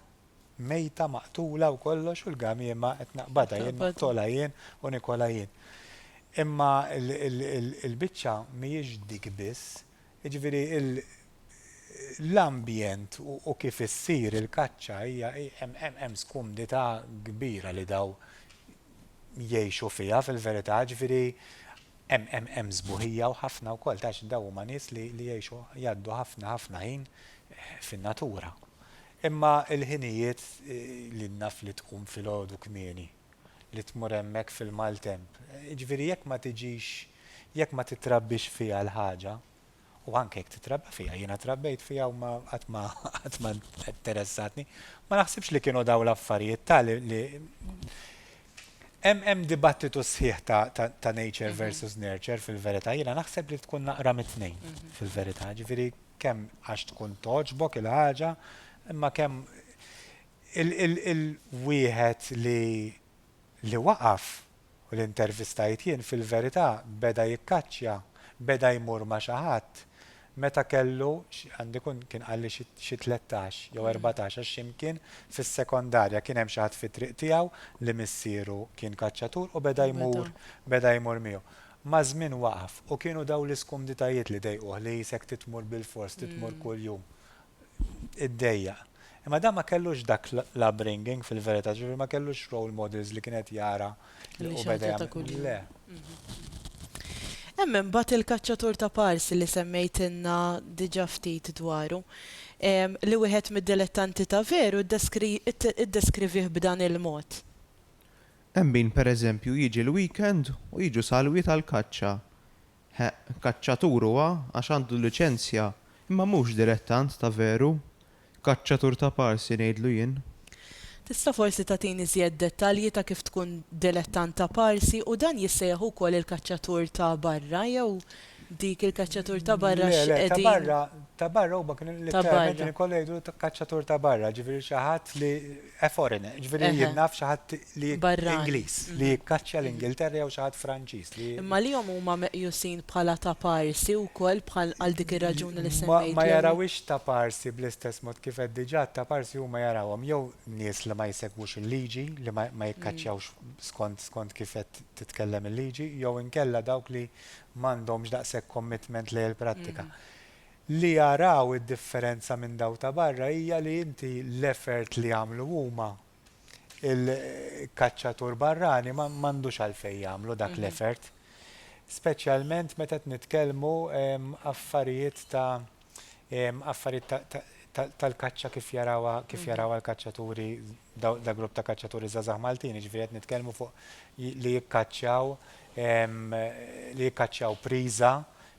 mejta, maqtula u kollox u l-gamiema qed naqbadha jien, noqtolha jien u nikolha jien. Imma l-biċċa mhijiex dik biss, Jiġifieri l-ambjent u kif issir il-kaċċa hija hemm skumdità kbira li dawn jgħixu fiha fil-verità, jiġifieri hemm sbuħija u ħafna wkoll għax dawn huma nies li jgħixu jgħaddu ħafna ħafna ħin fin-natura. Imma l-ħinijiet li naf li tqum filgħodu kmieni. li tmur hemmhekk fil-maltemp. Jiġifieri jekk ma tiġix, jekk ma tittrabbix fiha l-ħaġa, u anke jekk titrabba fiha, jiena trabbejt fiha u ma qatt ma qatt ma interessatni, ma naħsibx li kienu dawn l-affarijiet ta' li li hemm hemm dibattitu sħiħ ta' ta' nature versus nurture fil-verità, jiena naħseb li tkun naqra mit-tnejn fil-verità, jiġifieri kemm għax tkun togħġbok il-ħaġa, imma kemm Il-wieħed li waqaf u li ntervistajt jien fil-verità beda jikkaċċja, beda jmur ma' xi ħadd meta kellu, għandu jkun kien qalli xi tlettax jew erbatax għax x'imkien fis-sekondarja kien hemm xi ħadd fit-triq tiegħu li missieru kien kaċċatur u beda jmur, beda jmur miegħu. Maż-żmien waqaf u kienu dawn l-iskumditajiet li dejquh li qisek trid tmur bilfors, trid tmur kuljum. iddejjaq. Imma dan ma kellux dak l-upbringing fil-verità, ġifieri ma kellux role models li kien qed jara li hu beda jagħmel. Le. Hemm imbagħad il-kaċċatur ta' pars li semmejtilna diġà ftit dwaru, li wieħed mid-dilettanti ta' veru ddeskrivih b'dan il-mod. Hemm min pereżempju jiġi l-weekend u jiġu salwiet għall-kaċċa. Heq, kaċċatur huwa għax għandu l-liċenzja, imma mhux dilettant ta' veru. Kaċċatur ta' parsi ngħidlu jien. Tista' forsi tagħtini żjed dettalji ta' kif tkun dilettant ta' parsi u dan jissejjaħ ukoll il-kaċċatur ta' barra jew dik il-kaċċatur ta' barra Le, le, ta' barra, ta' barra huma kienu letteralment kienu jkollhom jgħidulu kaċċatur ta' barra, ġifieri xi ħadd li A foreigner, ġifieri jien naf xi ħadd li Ingliż li jikkaċċja l-Ingilterra jew xi ħadd Franċiż li. Imma li hom huma meqjusin bħala taparsi wkoll bħal għal dik ir-raġuni li semmejt. Ma jarawhiex taparsi bl-istess mod kif għedt diġà, taparsi huma jarawhom jew nies li ma jsegwux il-liġi, li ma jikkaċċjawx skont skont kif qed titkellem il-liġi, jew inkella dawk li m'għandhomx daqshekk commitment lejn il-prattika. Li jaraw id-differenza minn dawk ta' barra hija li inti l-effort li jagħmlu huma, il-kaċċatur barrani m'għandux għalfejn jagħmlu dak l-effort. Speċjalment meta qed nitkellmu affarijiet ta' affarijiet ta' tal-kaċċa kif jarawha kif jarawha l-kaċċaturi dak grupp ta' kaċċaturi żgħażagħ Maltin, jiġifieri qed nitkellmu fuq li jikkaċċjaw li jikkaċċjaw priża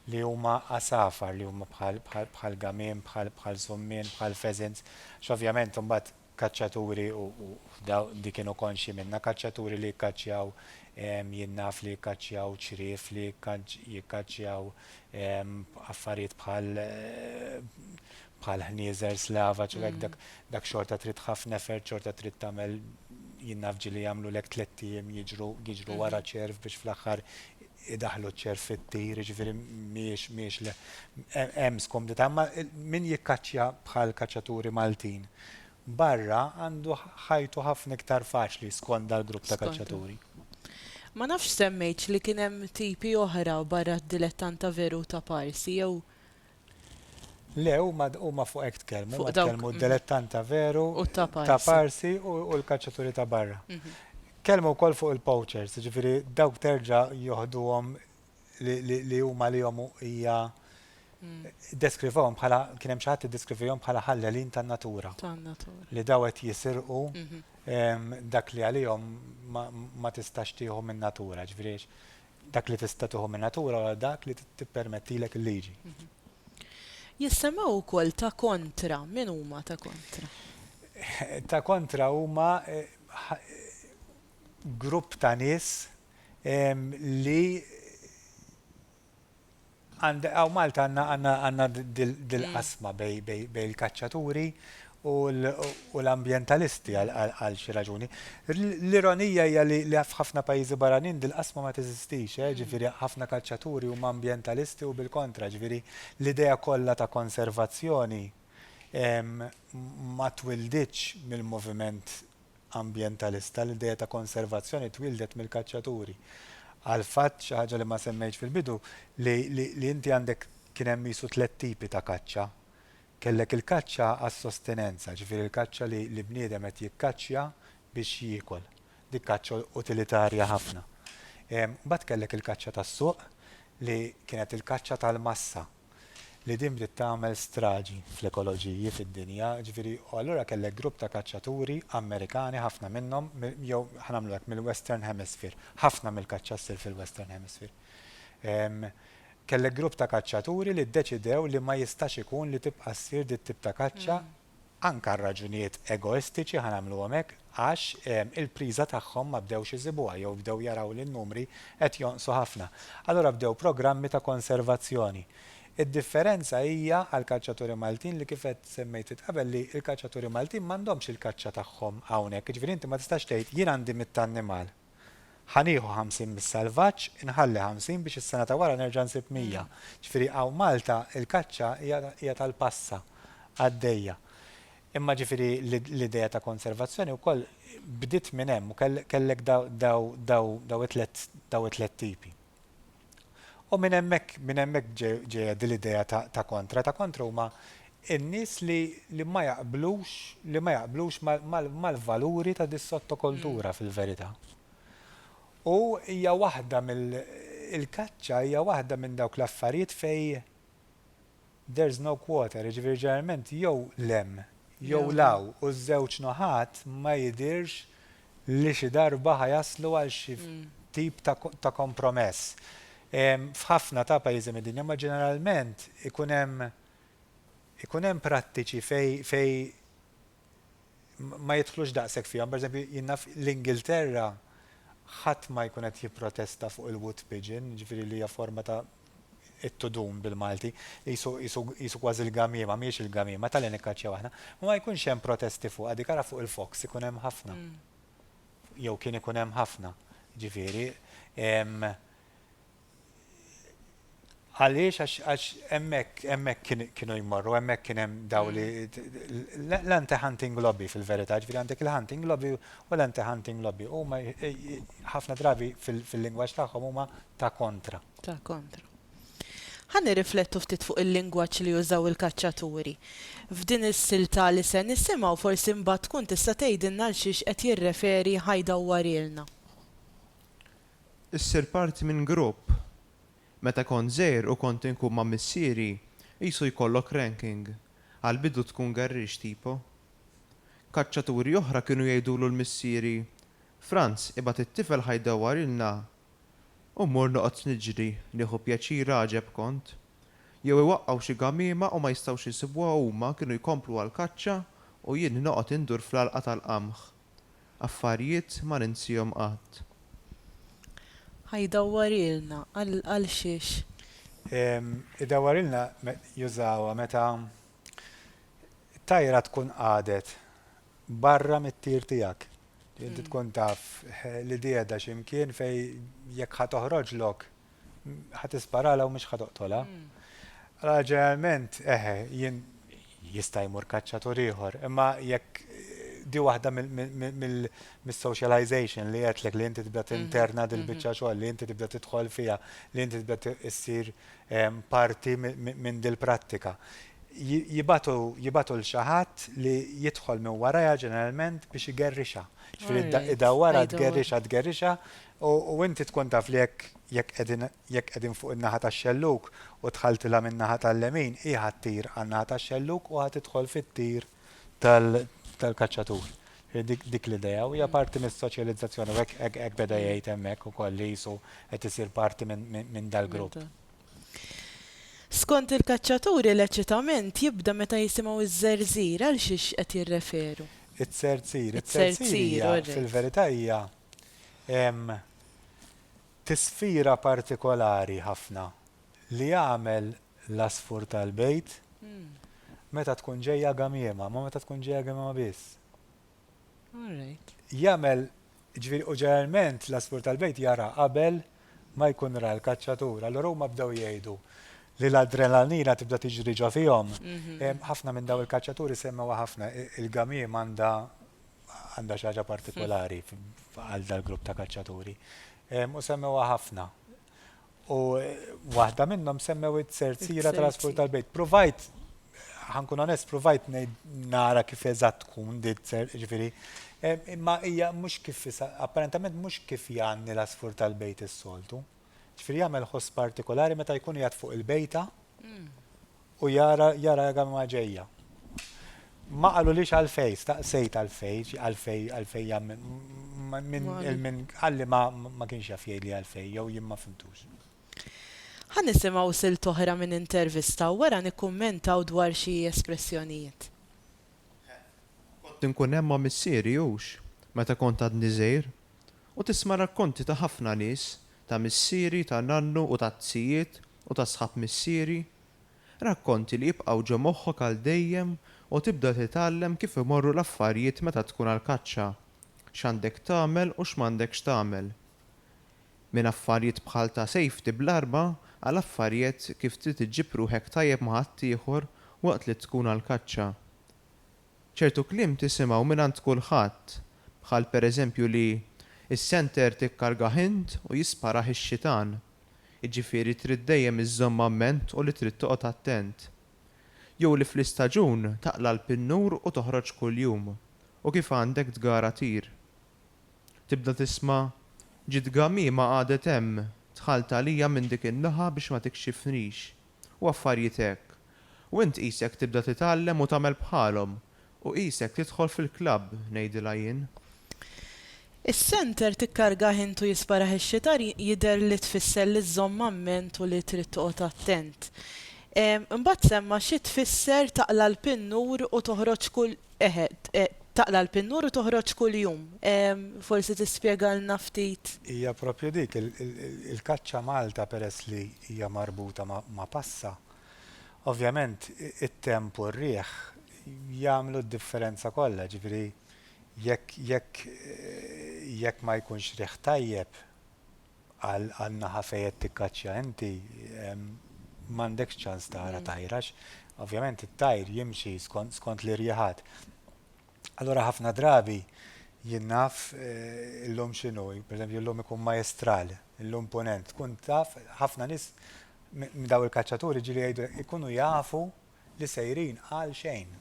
li huma għasafar, li huma bħal, bħal, bħal gamien, bħal, bħal summien, bħal pheasants, għax ovvjament imbagħad kaċċaturi, u, u daw, di kienu konxji minnha, kaċċaturi li jikkaċċjaw, jien naf li jikkaċċjaw ċriev, li jikkaċ, jikkaċċjaw affarijiet bħal, bħal ħnieżer slavaġ u hekk, dak, dak xorta trid ħafna effort, xorta trid tagħmel, jien naf ġieli jagħmlulek tlett ijiem jiġru, jiġru wara ċerv biex fl-aħħar idaħħlu ċ-ċerf-it-tir, jiġifieri mhijiex, mhijiex le, hemm skomdità, imma min jikkaċċja bħall-kaċċaturi Maltin barra għandu ħajtu ħafna iktar faċli skond dal-grupp ta' kaċċaturi. Ma nafx semmejtx li kien hemm tipi oħra barra d-dilettanta veru ta' parsi jew. Le, huma huma fuq hekk tkellmu, Fuq huma dawk- tkellmu d-delettant ta' veru, U ta' Parsi. ta' Parsi u u l-kaċċaturi ta' barra. Tkellmu wkoll fuq il-poachers, jiġifieri dawk terġa' joħduhom li li li huma għalihom u hija ddeskrivewhom bħala kien hemm xi ħadd iddeskrivihom bħala ħallelin tan-natura, Tan-natura. li daw qed jisirqu dak li għalihom ma ma tistax tieħu min-natura, jiġifieri Dak li tista' tieħu min-natura wara dak li tippermettilek il-liġi. Jissemmew ukoll ta' kontra, min huma ta' kontra? Ta' kontra huma grupp ta' nies li Għandek, hawn Malta għandna għandna għandna dil-qasma bejn bejn il-kaċċaturi u u l-ambjentalisti għal xi raġuni. L-ironija hija li li f'ħafna pajjiżi barranin dil-qasma ma teżistix, eh, ġifieri ħafna kaċċaturi huma ambjentalisti u bil-kontra, ġifieri l-idea kollha ta' konservazzjoni ma twilditx mill-moviment ambjentalista, l-idea ta' konservazzjoni twieldet mill-kaċċaturi. Għall-fatt, xi ħaġa li ma semmejtx fil-bidu, li inti għandek kien hemm qisu tliet tipi ta' kaċċa. Kellek il-kaċċa għas-sostenenza, ġifieri l-kaċċa li bniedem qed jikkaċċja biex jiekol. Dik kaċċa utilitarja ħafna. Imbagħad kellek il-kaċċa tas-suq li kienet il-kaċċa tal-massa. li din bdiet tagħmel straġi fl-ekoloġiji fid-dinja, jiġifieri, u allura kellek grupp ta' kaċċaturi Amerikani, ħafna minnhom, jew ħa nagħmlu hekk, mill-Western Hemisphere, ħafna mill-kaċċa ssir fil-Western Hemisphere. Kellek grupp ta' kaċċaturi li ddeċidew li ma jistax ikun li tibqa' ssir dit-tip ta' kaċċa Anke għal raġunijiet egoistiċi ħa nagħmluhom hekk għax il-priża tagħhom ma bdewx isibuha jew bdew jaraw li n-numri qed jonqsu ħafna. Allura bdew programmi ta' konservazzjoni. Id-differenza hija għall-kaċċaturi Maltin li kif qed semmejt int qabel li l-kaċċaturi Maltin m'għandhomx il-kaċċa tagħhom hawnhekk. Jiġifieri inti ma tistax tgħid jien għandi mitt annimal. Ħa nieħu ħamsin mis-salvaġġ, inħalli ħamsin biex is-sena ta' wara nerġa' nsib mija. Ġifieri hawn Malta l-kaċċa hija hija tal-passa għaddejja. Imma ġifieri l-idea ta' konservazzjoni wkoll bdiet minn hemm u kellek daw daw daw daw it-tliet daw it-tliet tipi. U minn hemmhekk minn hemmhekk ġejja din l-idea ta' kontra. Ta' kontra huma n-nies li li ma jaqblux li ma jaqblux mal-valuri ta' dis-sottokultura fil-verità. U hija waħda mill il-kaċċa hija waħda minn dawk l-affarijiet fejn There's no quarter, jiġifieri ġeneralment jew 'l hemm jew 'l hawn u ż-żewġ naħat ma jidhirx li xi darba ħa jaslu għal xi tip ta' kompromess. F'ħafna ta' pajjiżi mid-dinja ma ġeneralment ikun hemm ikun hemm prattiċi fejn fejn ma jidħlux daqshekk fihom. Per eżempju, jien naf l-Ingilterra ħadd ma jkun qed jipprotesta fuq il-wood pigeon, jiġifieri li hija forma ta' it-tudun bil-Malti, qisu, qisu, qisu kważi l-gamiema, mhijiex il-gamiema, ta' li nikkaċċjaw aħna. Ma ma jkunx hemm protesti fuqha, dik ara fuq il-Fox ikun hemm ħafna. Jew kien ikun hemm ħafna. Ġifieri, għaliex għax għax hemmhekk hemmhekk kien kienu jmorru, hemmhekk kien hemm dawn li l-anti-hunting lobby fil-verità, ġifieri għandek il-hunting lobby u l-anti-hunting lobby. Huma ħafna drabi fil-lingwaġġ tagħhom huma ta' kontra. Ta' kontra. Ħa nirriflettu ftit fuq il-lingwaġġ li użaw il-kaċċaturi. F'din is-silta li se nisimgħu forsi mbagħad tkun tista' tgħidilna għal xiex qed jirreferi Ħaj dawwarilna. Issir parti minn grupp. Meta kont żgħir u kont inkun ma' missieri, qisu jkollok ranking. Għall-bidu tkun gerriex tipo. Kaċċaturi oħra kienu jgħidulu l-missieri, Franz, ibgħat it-tifel Ħaj dawwarilna u mmur noqgħod niġri nieħu pjaċir għaġeb kont. Jew iwaqqgħu xi gamiema u ma jistgħux isibuha huma kienu jkomplu għall-kaċċa u jien noqgħod indur fl-għalqa tal-qamħ. Affarjiet ma ninsiehom qatt. Ħa jdawwarilna għal xiex? Jdawwarilna jużawha meta t-tajra tkun qagħdet barra mit-tir tiegħek. Inti tkun taf li di qiegħda xi mkien fejn jekk ħa toħroġlok ħa tisparala u mhux ħa toqtolha. Allora ġeneralment eħe jien jista' jmur kaċċatur ieħor, imma jekk di waħda mis-socialization li qedtlek li inti tibda tinterna dil-biċċa xogħol li inti tibda tidħol fiha, li inti tibda issir parti minn dil-prattika. Jibgħatu l xi ħadd li jidħol minn warajha ġeneralment biex igerrixha. Jiġifieri idawwarha tgerrixha tgerrixha u inti tkun taf li jekk jekk qegħdin jekk qegħdin fuq in-naħa tax-xellug u dħaltilha min-naħa tal-lemin hi ħa ttir għan-naħa tax-xellug u ħa tidħol fit-tir tal-kaċċatur. Dik l-idea u hija parti mis-soċjalizzazzjoni u hekk beda jgħid hemmhekk ukoll li qisu qed isir parti minn dal-grupp. Skont il-kaċċaturi l-eċitament jibda meta jisimgħu ż-żerżir, għal xiex qed jirreferu? Iz-zerzir. Iz-zerzir fil-verità hija tisfira partikolari ħafna li jagħmel l-għasfur tal-bejt, meta tkun ġejja gamiema, ma meta tkun ġejja gamiema biss. Jagħmel, ġifieri u ġeneralment l-għasfur tal-bejt jara qabel ma jkun ra l-kaċċatur. Allura huma bdew jgħidu li l-adrenalina tibda tiġri ġo fihom. Ħafna minn dawn il-kaċċaturi semmewha ħafna, il-gamiem għandha għandha xi ħaġa partikolari għal dal-grupp ta' kaċċaturi. U semmewha ħafna. U waħda minnhom semmew it-serziera tal-asfur tal-bejt. Provajt, ħankun onest, provajt nara kif eżatt tkun dit ser, ġifiri, eh, imma hija mhux kif, apparentament mhux kif jgħanni l-asfur tal-bejt is-soltu. Ġifiri jagħmel ħoss partikolari meta jkun jgħat fuq il-bejta mm. U jara, jara l-gamma ġejja. Ma qalulix għalfejn, staqsejt għalfejn, għalfejn, għalfejn jagħmel, minn il-minn qalli ma kienx jaf jgħidli għalfejn, jew jien ma fhimtux. Ħa nisimgħu silt oħra minn intervista u wara nikkummentaw dwar xi espressjonijiet. Kont inkun hemm ma' missieri, hux, meta kont għadni żgħir, u tisma' rakkonti ta' ħafna nies, ta' missieri, ta' nannu u tat-tzijiet, u ta' sħab missieri, rakkonti li jibqgħu ġo moħħok għal dejjem u tibda titgħallem kif imorru l-affarijiet meta tkun għall-kaċċa, x'għandek tagħmel u x'm'għandekx tagħmel. Minn affarijiet bħal ta' safety bl-arma għal affarijet kif trid iġġib ruħek tajjeb ma' ħaddieħor waqt li tkun għall-kaċċa. Ċertu kliem tisimgħu mingħand kulħadd, bħal pereżempju li, Is-senter tikkargah int u jisparah ix-xitan. Jiġifieri trid dejjem iżżommha f'ment u li trid toqgħod attent. Jew li fl-istaġun taqla' l-pinnur u toħroġ kuljum, u kif għandek tgara tir. Tibda tisma', Ġiet ghamima qagħdet hemm, dħalt għalija minn dik in-naħa biex ma tikxifnix. u affarjiet hekk, u int qisek tibda titgħallem u tagħmel bħalhom, u qisek tidħol fil-klabb, ngħidilha jien. Is-center tikkargah int u jisparah ix-xitar jidher li tfisser li żżomm amment u li trid toqgħod attent. Imbagħad semma xi tfisser taqla' l-pinnur u toħroġ kull Eħe, taqla' l-pinnur u toħroġ kuljum. Forsi tispjegalna ftit? Hija proprju dik, il-kaċċa Malta peress li hija marbuta ma' passa, ovvjament it-temp u r-riħ jagħmlu d-differenza kollha, jiġifieri jekk ma jkunx riħ tajjeb, għan-naħa fejn qed tikkaċċja inti m'għandekx ċans tara tajr għax ovvjament it-tajr jimxi skont l-irjiħat. Allura ħafna drabi jien naf illum x'inhu, per eżempju illum ikun Majestral, illum Punent, tkun taf ħafna nies minn dawn il-kaċċaturi ġieli jgħidu ikunu jafu, li sejrin għal xejn.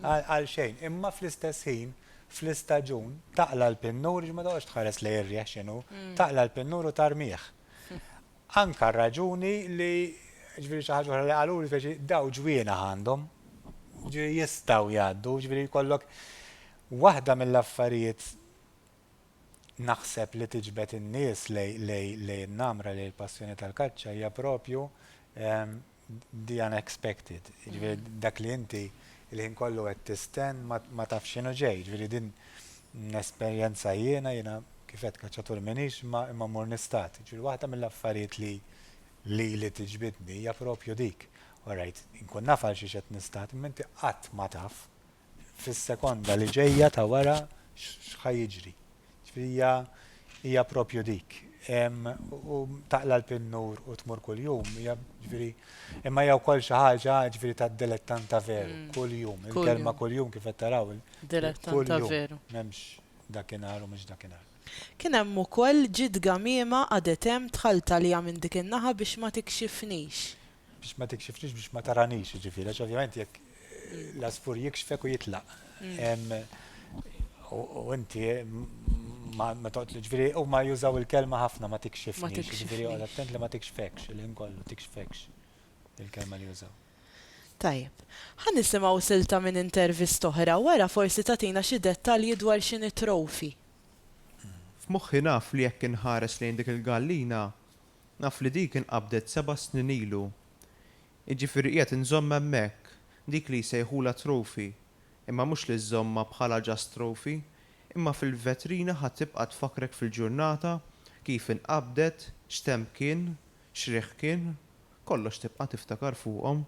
Għal xejn. Imma fl-istess ħin, fl-istaġun, taqla' l-pinnur, ma toqgħodx tħares lejn ir-riħ x'inhu, taqla' l-pinnur u tarmih. Anke r-raġuni li, jiġifieri xi ħaġa oħra li qaluli, speċi, dawn ġwienaħ għandhom, jiġifieri jistgħu jgħaddu, jiġifieri jkollok. Waħda mill-affarijiet naħseb li tiġbed in-nies lejn in-namra, lejn il-passjoni tal-kaċċa hija proprju the unexpected, jiġifieri dak li inti l-ħin kollu qed tistenn ma tafx x'inhu ġej, jiġifieri din nesperjenza jiena, jiena kif għedt kaċċatur m'iniex imma imma mmur nistad. Jiġifieri waħda mill-affarijiet li lili tiġbidni hija propju dik, all right, inkun naf għalxiex qed nistad imma inti qatt ma taf fis-sekonda li ġejja ta' wara x'ħa jiġri. Ġifieri hija hija propju dik. U taqla l-pinnur u tmur kuljum, hija ġifieri imma hija wkoll xi ħaġa ġifieri ta' dilettanta veru, mm. kuljum, il-kelma kuljum kif qed taraw. Dilettanta veru. M'hemmx dakinhar u mhux dakinhar. Kien hemm ukoll ġid gamiema għadet hemm tħalltalija minn dik in-naħa biex ma tikxifnix. Biex ma tikxifnix biex ma taranix, ġifiri, għax ovvjament jekk l-asfur jikxfek u jitlaq. U inti ma toqt li ġifiri, u ma jużaw il-kelma ħafna ma tikxifnix, ġifiri, u attent li ma tikxfekx, il-ħin kollu tikxfekx il-kelma li jużaw. Tajjeb. Ħa nisimgħu silta minn intervista oħra wara forsi tagħtina xi dettalji dwar x'inhi trofi. F'moħħi naf li jekk inħares lejn dik il-gallina, Naf li dik inqabdet seba' snin ilu. Jiġifieri qiegħed inżomm hemmhekk dik li jsejħulha trophy, imma mhux li żżommha bħala just trophy, imma fil-vetrina ħa tibqa' tfakkrek fil-ġurnata kif inqabdet, x'temp kien, x'riħ kien, kollox tibqa' tiftakar fuqhom.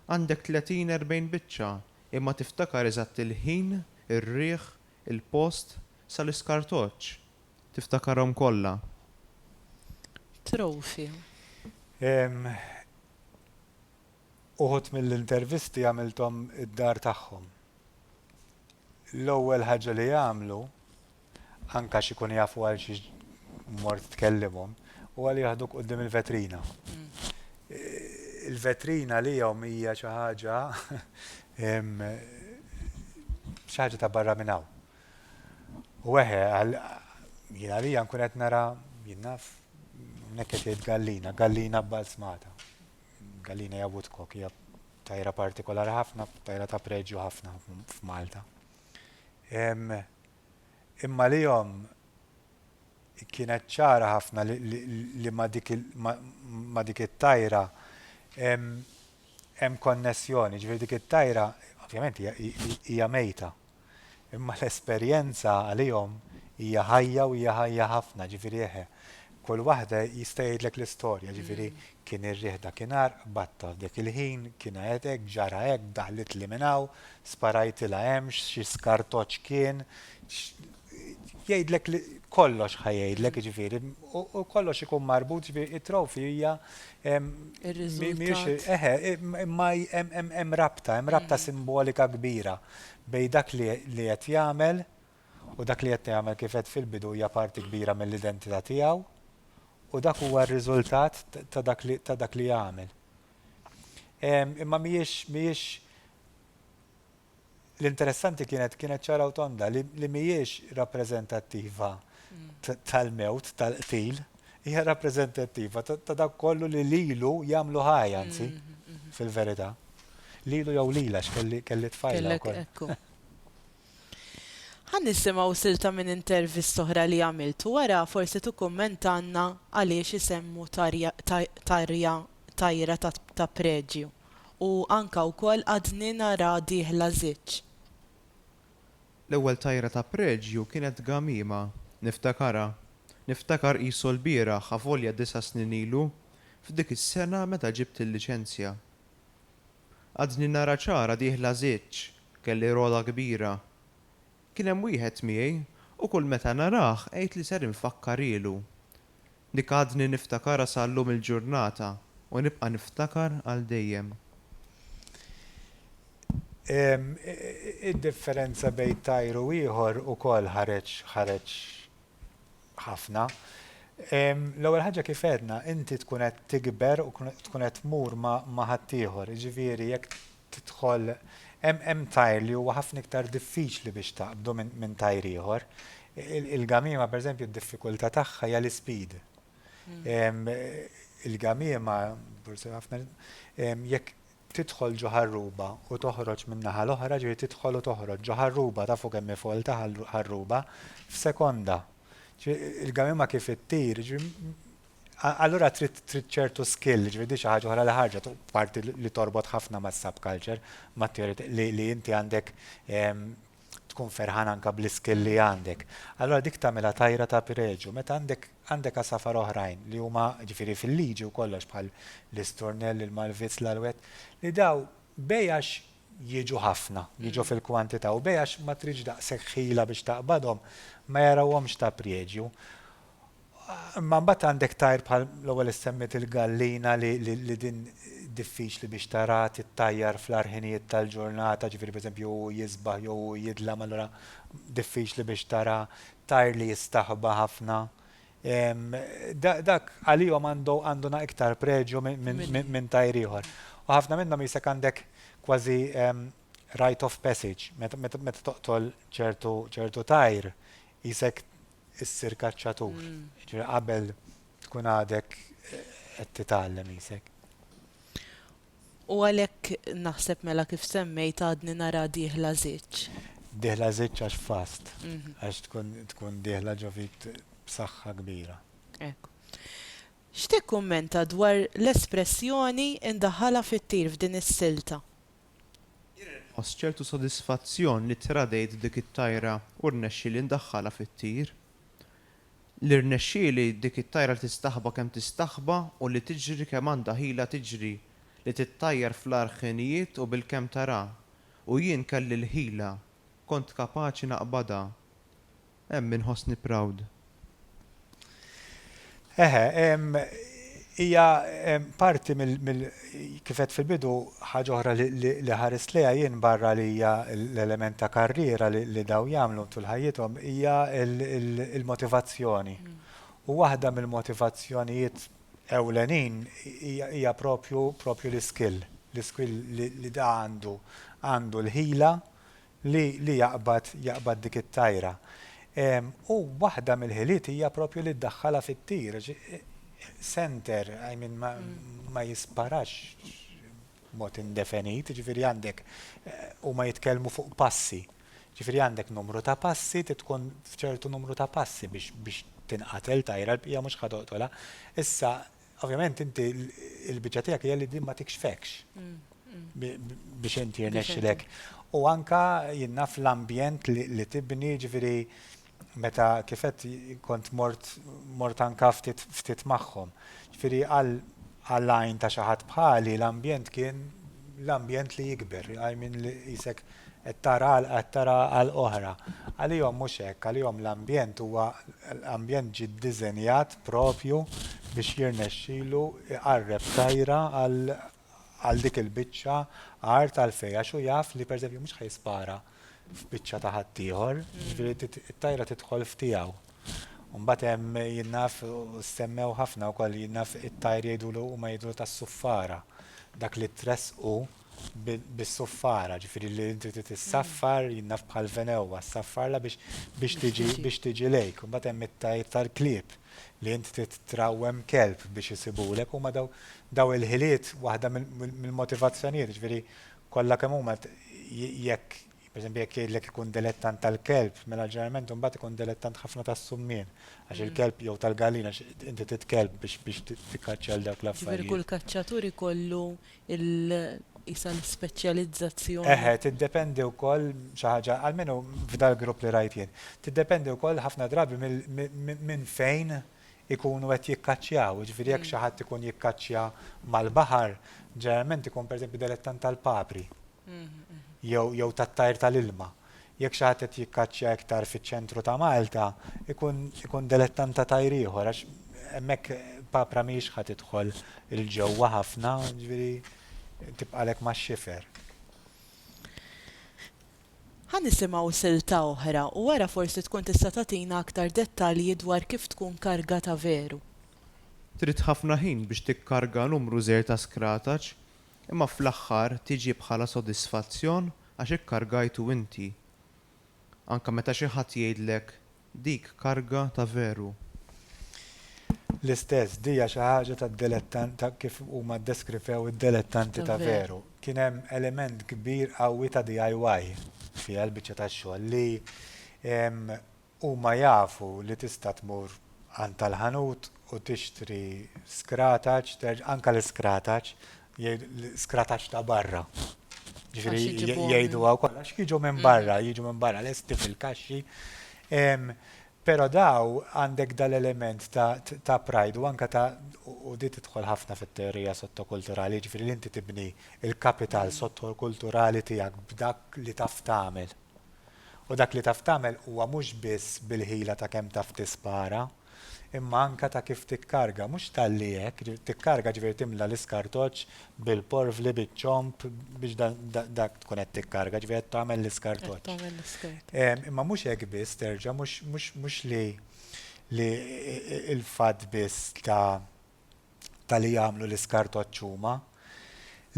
Għandek tletin, erbgħin biċċa, imma tiftakar eżatt il-ħin, ir-riħ, il-post, sal-iskartoċċ. Tiftakarhom kollha. Trophy. Ehm uħud mill-intervisti għamilthom id-dar tagħhom. L-ewwel ħaġa li jagħmlu, anke għax ikun jafu għal xiex mort tkellimhom, huwa li jaħduk quddiem il-vetrina. Il-vetrina għalihom hija xi ħaġa ehm xi ħaġa ta' barra minn hawn. U eħe, jien għalija nkun qed nara jien naf nek qed jgħid gallina, gallina b'balzmata. Gallina hija woodcock, hija tajra partikolari ħafna, tajra ta' preġju ħafna f'Malta. Imma li jom kienet ċara ħafna li ma dik it-tajra hemm konnessjoni, ġifieri dik it-tajra ovvjament hija mejta, Imma l-esperjenza għalihom hija ħajja u hija ħajja ħafna, ġifieri eħe. Kull waħda jista' jgħidlek l-istorja, ġifieri kien ir-riħ dakinhar, qbadtha f'dek il-ħin, kien għedt hekk, ġara hekk, daħlitli minn hawn, sparajtilha hemm, xi skartoċ kien, jgħidlek kollox ħa jgħidlek, jiġifieri, u kollox ikun marbut, jiġifieri it-trophy hija mhijiex, eħe, imma hemm rabta, hemm rabta simbolika kbira. bejn dak li li qed jagħmel u dak li qed nagħmel kif għedt fil-bidu hija parti kbira mill-identità tiegħu u dak huwa r-riżultat ta' dak li ta' dak li għamel. Imma mhijiex mhijiex l-interessanti kienet kienet ċara u tonda li li mhijiex rappreżentattiva tal-mewt, tal-qtil, hija rappreżentattiva ta' dak kollu li lilu jagħmlu ħaj, anzi, fil-verità. Lilu jew lila x'kelli kelli tfajla wkoll. Ħa nisimgħu silta minn intervista oħra li għamilt u wara forsi tikkummentalna għaliex isemmu tarja tajra ta' preġju u anke wkoll Għadni nara dieħla żiġ. L-ewwel tajra ta' preġju kienet gamiema. Niftakarha. Niftakar qisu l-bieraħ avolja disa' snin ilu, f'dik is-sena meta ġibt il-liċenzja. Għadni nara ċara dieħla żiġ, kelli rogħla kbira. Kien hemm wieħed miegħi u kull meta narah għidtli ser infakkarilu. Dik għadni niftakarha sa llum il-ġurnata u nibqa' niftakar għal dejjem. Id-differenza bejn tajr u ieħor ukoll ħareġ ħareġ ħafna. L-ewwel ħaġa kif għedna, inti tkun qed tikber u tkun qed tmur ma' ħaddieħor, jiġifieri jekk tidħol hemm hemm tajr li huwa ħafna iktar diffiċli biex taqbdu minn minn tajr ieħor. Il-gamiema pereżempju d-diffikultà tagħha hija l-ispeed. Il-gamiema jekk tidħol ġo ħarruba u toħroġ min-naħa l-oħra, ġifieri tidħol u toħroġ ġo ħarruba, tafu kemm hi folta ħarruba, f'sekonda. Il-gamiema kif ittir, Allura trid trid ċertu skill, jiġifieri di xi ħaġa oħra li ħarġet u parti li torbot ħafna mas-subculture, mat-teori li li inti għandek tkun ferħan anke bl-iskill li għandek. Allura dik tagħmilha tajra ta' pireġu. Meta għandek għandek għasafar oħrajn li huma ġifieri fil-liġi u kollox bħal l-isturnell, il-malvizz, l-alwett, li daw bejn għax jiġu ħafna, jiġu fil-kwantità u bejn għax ma tridx daqshekk ħila biex taqbadhom ma jarawhomx ta' priegju. Imma mbagħad għandek tajr bħal l-ewwel li semmiet il-gallina li li din diffiċli biex taraha tittajjar fl-agħar ħinijiet tal-ġurnata, ġifieri pereżempju hu jisbaħ jew hu jidlam allura diffiċli biex tara tajr li jistaħba ħafna. Dak għalihom għandu għandu iktar preġju minn tajr ieħor. U ħafna minnhom qisek għandek kważi rite of passage meta meta toqtol ċertu ċertu tajr qisek issir kaċċatur. Ġifieri qabel tkun għadek qed titgħallem qisek. U għalhekk naħseb mela kif semmejt għadni nara dieħla żiġġ. Dieħla żiġġ għax fast, mhm. għax tkun tkun dieħla ġo fik b'saħħa kbira. Ekk. X'tikkummenta dwar l-espressjoni indaħħala fit-tir f'din is-silta? Jien inħoss ċertu sodisfazzjon li tradejt dik it-tajra u rnexxieli ndaħħalha fit-tir. Li rnexxieli dik it-tajra tistaħba kemm tistaħba u li tiġri kemm għandha ħila tiġri, li tittajjar fl-agħar ħinijiet u bilkemm tara, u jien kelli l-ħila, kont kapaċi naqbadha. Hemm inħossni proud. Eħe, hija parti mill-, kif għedt fil-bidu, ħaġa oħra li ħarist lejha jien barra li hija l-element ta' karriera li dawn jagħmlu tul ħajjithom, hija l-motivazzjoni. U waħda mill-motivazzjonijiet ewlenin hija proprju l-iskill, l-iskill li da għandu, għandu l-ħila li li jaqbad jaqbad dik it-tajra. U waħda mill-ħiliet hija proprju li ddaħħalha fit-tir għax center I mean ma ma jisparax b'mod indefenit, jiġifieri għandek huma jitkellmu fuq passi. Jiġifieri għandek numru ta' passi trid tkun f'ċertu numru ta' passi biex biex tinqatel tajra l-bqija mhux ħa toqtolha. Issa Ovvjament inti il-biċċa tiegħek hija li din ma tikxfekx biex inti jirnexxilek. U anka jinnaf l-ambjent li tibni ġifieri meta kifet kont mort mort anka ftit magħhom. Ġifieri għal għal għajn ta' xi ħadd bħali l-ambjent kien l-ambjent li jikber, I mean li qisek qed tara għalqa qed tara għalqa oħra. Għalihom mhux hekk, għalihom l-ambjent huwa ambjent ġie ddiżenjat proprju biex jirnexxilu jqarreb tajra għal għal dik il-biċċa art għalfejn għax hu jaf li pereżempju mhux ħa jispara, f'biċċa ta' ħaddieħor, jiġifieri t-tajra tidħol f'tiegħu. U mbagħad hemm jien naf u ssemmew ħafna wkoll jien naf it-tajr jgħidulu huma jgħidulu tas-suffara. Dak li tressqu bis-suffara, ġifieri li inti trid issaffar jien naf bħal venewwa ssaffarla biex biex tiġi biex tiġi lejk. Mbagħad hemm it-tajr tal-klieb li inti trid trawwem kelb biex isibulek huma daw daw il-ħiliet waħda mill-motivazzjonijiet, ġifieri kollha kemm huma, jekk, pereżempju, jekk jgħidlek ikun delettant tal-kelb, mela ġeneralment imbagħad ikun delettant ħafna tas-summien, għax il-kelb, jew tal-gallina, għax inti trid kelb biex biex tikkaċċja għal dawk l-affarijiet. Ġifieri kull kaċċatur ikollu l, qisha l-ispeċjalizzazzjoni. Eħe, tiddependi wkoll xi ħaġa, almenu f'dal-grupp li rajt jien, tiddependi wkoll ħafna drabi minn fejn ikunu qed jikkaċċjaw. Jiġifieri jekk xi ħadd ikun jikkaċċja mal-baħar, ġeneralment ikun pereżempju delettant tal-papri jew tat-tajr tal-ilma. Jekk xi ħadd qed jikkaċċja iktar fiċ-ċentru ta' Malta, ikun delettant ta' tajr ieħor għax hemmhekk papra mhijiex ħa tidħol 'il ġewwa ħafna, jiġifieri tibqagħlek max-xifer. Ħa nisimgħu silta oħra u wara forsi tkun tista' tagħtina aktar dettalji dwar kif tkun kargata veru. Trid ħafna ħin biex tikkarga numru żgħir ta' skrataċ, imma fl-aħħar tiġi bħala sodisfazzjon għax ikkargajtu inti. Anke meta xi ħadd jgħidlek Dik karga ta' veru. L-istess, dija xi ħaġa tad-delettan ta' kif huma ddeskrifew id-delettanti ta' veru. Kien hemm element kbir qawwi ta' DIY fiha l-biċċa tax-xogħol li huma jafu li tista' tmur għand tal-ħanut u tixtri skrataċ, terġa', anke l-iskrataċ, l-iskrataċ ta' barra. Ġifieri jgħiduha wkoll għax jiġu minn barra, jiġu minn barra lesti fil-kaxxi. Però daw għandek dal-element ta' pride u anke ta' u di tidħol ħafna fit-teorija sottokulturali, jiġifieri li inti tibni l-kapital sottokulturali tiegħek b'dak li taf tagħmel. U dak li taf tagħmel huwa mhux biss bil-ħila ta' kemm taf tispara, imma anke ta' kif tikkarga, mhux talli hekk, tikkarga ġifieri timla l-iskartoċ bil-porvli, biċ-ċomb biex dak tkun qed tikkarga, ġifieri qed tagħmel l-iskartoċ. Imma mhux hekk biss terġa' mhux li l-fatt biss ta' ta' li jagħmlu l-iskartoċċ huma,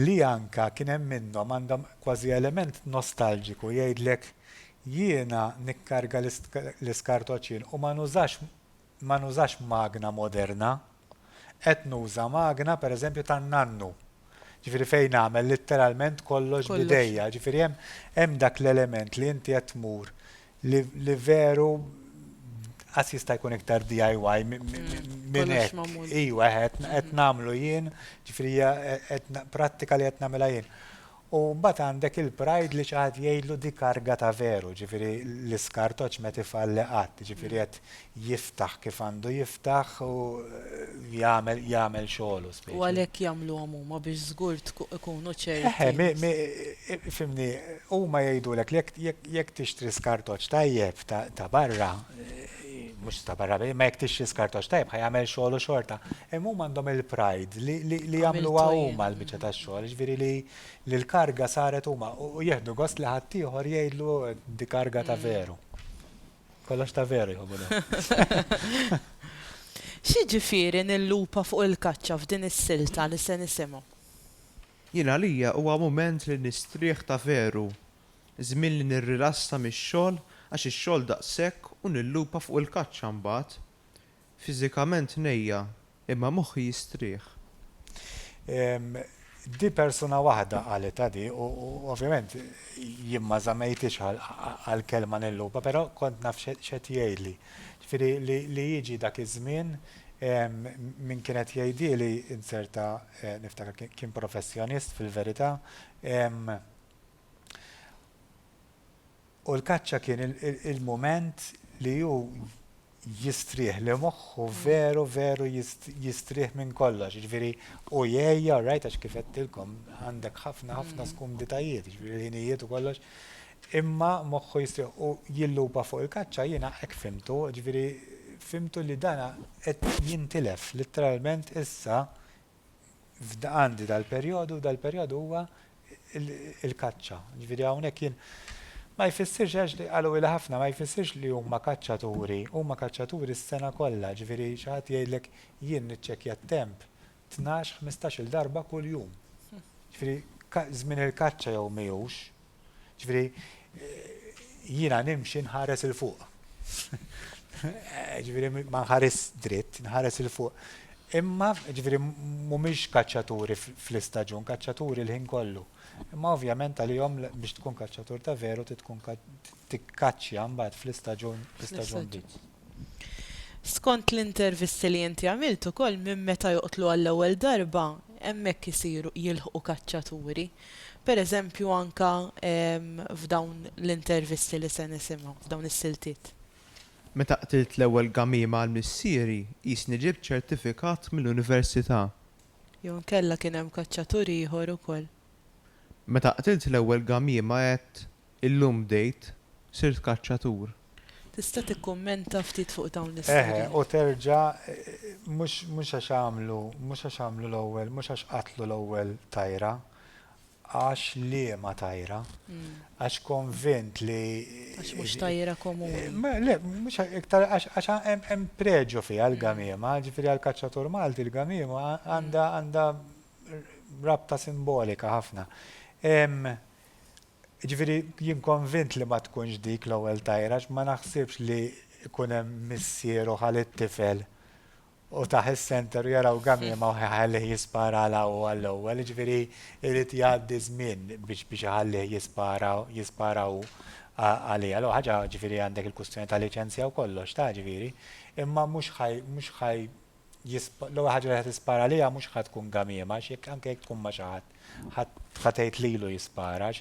li anke kien hemm minnhom għandhom kważi element nostalġiku jgħidlek jiena nikkarga l-iskartoċċ jien u ma nużax ma nużax magna moderna, qed nuża magna pereżempju tan-nannu, ġifieri fejn nagħmel litteralment kollox b'idejja, ġifieri hemm hemm dak l-element li inti qed tmur Li veru għas jista' jkun iktar DIY minn hekk. Iwa, qed mhm. nagħmlu jien, ġifri prattika li qed nagħmilha jien. U mbagħad għandek il-pride li xaħat jgħidlu di karga ta' veru, ġifiri l-iskartoċ meti falli qatt, ġifiri qed jiftaħ kif għandu jiftaħ u jagħmel jagħmel xogħlu speċi. U għalhekk jagħmluhom huma biex żgur ikunu ċerti. Eħe, fimni, huma jgħidulek li jekk tixtri skartoċ tajjeb ta' barra, mhux ta' barra, ma jekk tixtri skartoċ tajjeb ħa jagħmel xogħlu xorta. Hemm huma għandhom il-pride li jagħmluha huma l-biċċa tax-xogħol, jiġifieri li l-karga saret huma u jieħdu gost li ħaddieħor jgħidlu di karga ta' veru. Kollox ta' veru jħobbu dawn. X'jiġifieri nillupa fuq il-kaċċa f'din is-silta li se nisimgħu? Jien għalija huwa mument li nistrieħ ta' veru. Żmien li nirrilassa mix-xogħol għax ix-xogħol daqshekk u nillupa fuq il-kaċċa mbagħad. Fiżikament ngħejja, imma moħħi jistrieħ. Ehm, di persuna waħda qalitha di u ovvjament jien ma żammejtiex għall-kelma nilluba, però kont naf x'qed jgħidli. Ġifieri li jiġi dak iż-żmien ehm, min kien qed jgħidhieli inzerta eh, niftakar kien professjonist fil-verità, ehm, U l-kaċċa kien il-mument li hu jistrieħ, li moħħu veru veru jistrieħ minn kollox. Jiġifieri u jgħejja, rajt għax kif qedtilkom għandek ħafna ħafna mm. skumditajiet, jiġifieri l-ħinijiet u kollox. Imma moħħu jistrieħ u jillupa fuq il-kaċċa jiena hekk fimtu, jiġifieri fimtu li dana qed jintilef, letteralment issa għandi dal-perjodu u dal-perjodu huwa il-kaċċa. Ġifieri hawnhekk jien ma jfissirx għax li qalu il ħafna ma jfissirx li huma kaċċaturi, huma kaċċaturi s-sena kollha, ġifieri xi ħadd jgħidlek jien niċċekkja t-temp 12-15-il darba kuljum. Ġifieri żmien il-kaċċa jew mhijiex, Ġifieri jiena nimxi nħares 'il fuq. Ġifieri ma nħarisx dritt, nħares 'il fuq. Imma, ġifieri mhumiex kaċċaturi fl-istaġun, kaċċaturi l-ħin kollu. Imma ovvjament għalihom biex tkun kaċċatur ta' veru trid tkun tikkaċċja mbagħad fl-istaġun, fl-istaġun. Skont l-intervisti li inti għamilt ukoll minn meta joqtlu għall-ewwel darba hemmhekk isiru jilħqu kaċċaturi. Per eżempju anke f'dawn l-intervisti li se nisimgħu, f'dawn is-siltiet. Meta qtilt l-ewwel gamiema għal missieri qisni ġibt ċertifikat mill-università. Jew inkella kien hemm kaċċatur ieħor ukoll. Meta qtilt l-ewwel gamiema għedt Illum bdejt sirt kaċċatur. Tista' tikkummenta ftit fuq dawn l-istorji? Eħe, u terġa', mhux għax għamlu, mhux għax għamlu l-ewwel, mhux għax qatlu l-ewwel tajra, għax liema tajra? Għax konvint li. Għax mhux tajra komuni. Le, mhux iktar għax hemm pregio fiha l-gamiema, ġifieri għall-kaċċatur Malti l-gamiema għandha rabta simbolika ħafna. Jiġifieri jien konvint li ma tkunx dik l-ewwel tajr għax ma naħsibx li jkun hemm missier u ħa lit-tifel u tah is-center u jaraw gamiema u jħallih jisparalha hu għall-ewwel. Jiġifieri jrid jgħaddi żmien biex biex iħallih jispara jispara hu għaliha. L-ewwel ħaġa jiġifieri għandek il-kwistjoni ta' liċenzja u kollox tah jiġifieri. Imma mhux ħaj mhux ħaj l-ewwel ħaġa li ħa tispara għaliha mhux ħa tkun gamiema għax jekk anke jekk tkun ma' xi ħadd ħa tgħid lilu jispara għax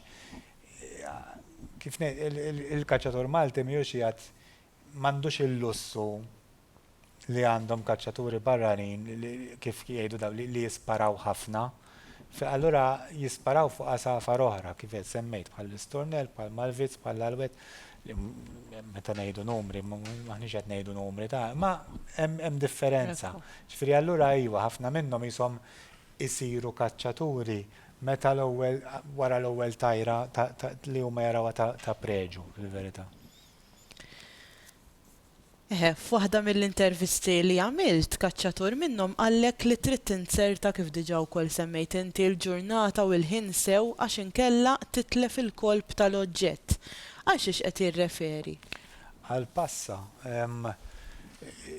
kif il-kaċċatur Malti mhijiex jgħid m'għandux il-lussu li għandhom kaċċaturi barranin kif jgħidu daw li jisparaw ħafna. Fi allura jisparaw fuq għasafar oħra, kif qed semmejt, bħall-istornell, bħall-malvizz, bħall-għalwed, li meta ngħidu numri, m'aħniex qed ngħidu numri ta', imma hemm differenza. Ġifieri allura iva, ħafna minnhom qishom isiru kaċċaturi meta l-ewwel, wara l-ewwel tajra li huma jarawha ta' preġu, fil-verità. F'waħda mill-intervisti li għamilt, kaċċatur minnhom qallek li trid tinzerta kif diġà wkoll semmejt inti l-ġurnata u l-ħin sew għax inkella titlef il-kolp tal-oġġett. Għal xiex qed jirreferi? Għal passa.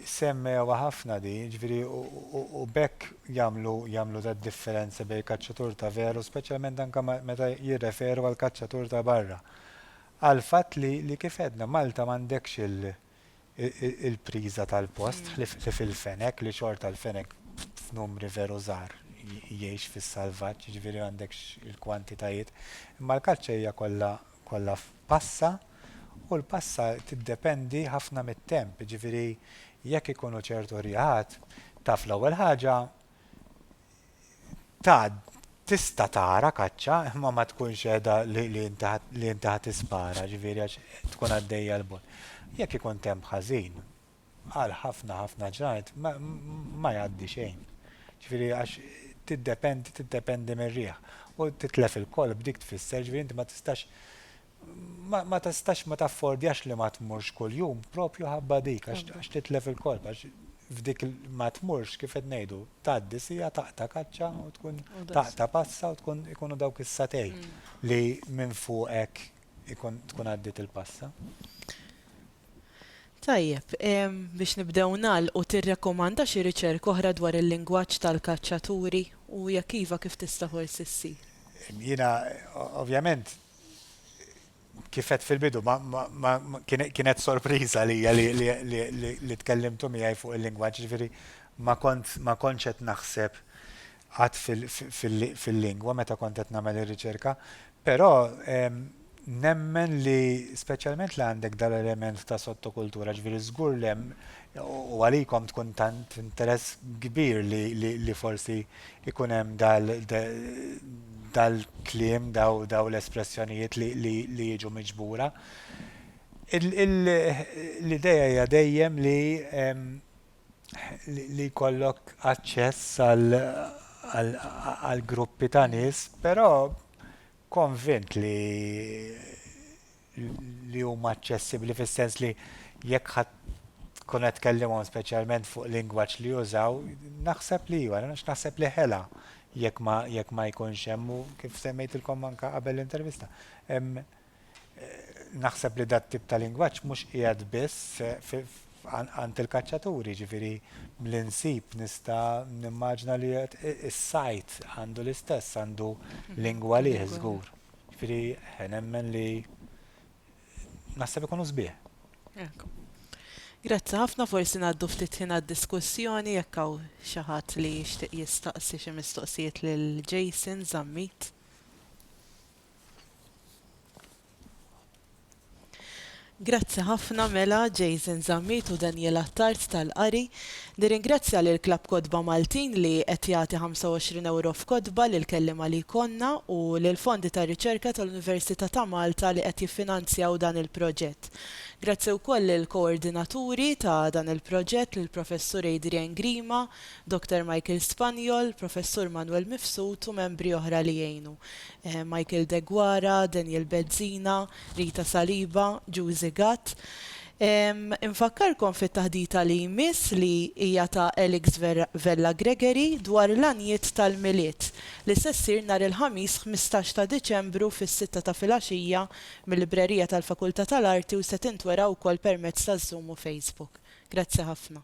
Semmewha ħafna din, jiġifieri u b'hekk jagħmlu jagħmlu tad-differenza bejn kaċċatur ta' veru, speċjalment anke meta jirreferu għal kaċċatur ta' barra. għall-fatt li, li kif għedna, Malta m'għandekx il-priża tal-post, ħlief il-fenek, li xorta l-fenek f'numri veru żgħar jgħix fis-salvaġġ, jiġifieri m'għandekx il-kwantitajiet. Imma l-kaċċa hija kollha, kollha f'passa, u l-passa tiddependi ħafna mit-temp, jiġifieri jekk ikunu ċertu riegħat, taf l-ewwel ħaġa tgħaddi tista' tara kaċċa imma ma tkunx qiegħda li inti ħa tispara, ġifieri għax tkun għaddejja l bogħod. Jekk ikun temp ħażin, għal ħafna ħafna ġranet ma jgħaddi xejn. Ġifieri għax tiddependi tiddependi mir-riħ u titlef il-kolb dik tfisser ġifieri inti ma tistax ma tistax ma taffordjax li ma tmurx kuljum proprju ħabba dik għax titlef il-korp għax f'dik ma tmurx kif qed ngħidu tgħaddi sija taqta' kaċċa u tkun taqta' passa u tkun ikunu dawk is-satej li minn fuqek ikun tkun għaddiet il-passa. Tajjeb, biex nibdew nagħlqu tirrekomanda xi riċerka oħra dwar il-lingwaġġ tal-kaċċaturi u jekk iva kif tista' forsi ssir? Jiena ovvjament kif għedt fil-bidu, kienet sorpriża għalija li tkellimtu miegħi fuq il-lingwaġġ, jiġifieri ma kontx qed naħseb qatt fil-lingwa meta kont qed nagħmel ir-riċerka, però nemmen li speċjalment li għandek dan l-element ta' sottokultura, jiġifieri żgur li hemm u għalikom tkun tant interess kbir li forsi ikun hemm dal-kliem, dawn l-espressjonijiet li jiġu miġbura. L-idea hija dejjem li jkollok aċċess għal gruppi ta' nies, però konvint li li huma aċċessibbli fis-sens li jekk ħadd tkun qed tkellimhom speċjalment fuq lingwaġġ li jużaw, naħseb li iva, naħseb li ħela jekk ma jekk ma jkunx hemm u kif semmejtilkom anke qabel l-intervista. Eh, naħseb li dat tip ta' lingwaġġ mhux qiegħed biss għand il-kaċċaturi, ġifieri l-insib nista' nimmaġna li is-sajt għandu l-istess għandu lingwa li żgur. Jiġifieri nemmen li naħseb ikunu sbieħ. Grazzi ħafna, forsi ngħaddu ftit ħin għad-diskussjoni jekk hawn xi ħadd li jixtieq jistaqsi xi mistoqsijiet lil Jason Zammit. Grazzi ħafna mela Jason Zammit u Daniel Attard tal-qari. Nirringrazzja lil Klabb Kotba Maltin li qed jagħti ħamsa u għoxrin ewro f'kotba lill-kelliema li jkollna u lill-Fondi ta' Riċerka tal-Università ta' Malta li qed jiffinanzjaw dan il-proġett. Grazzi wkoll lill-koordinaturi ta' dan il-proġett, lill-Professur Adrian Grima, Dr. Michael Spaniol, Professur Manuel Mifsud u membri oħra li għinu. Michael Deguara, Daniel Bezzina, Rita Saliba, Giusy Gatt. Infakkarkom fit-taħdita li jmiss li hija ta' Alex Vella Gregory dwar l-għanjiet tal-Milied li se ssir nhar il-Ħamis ħmistax ta' Diċembru fis-sitta ta' filgħaxija mil-Librerija tal-Fakultà tal-Arti u se tintwera wkoll permezz ta' Zoom u Facebook. Grazzi ħafna.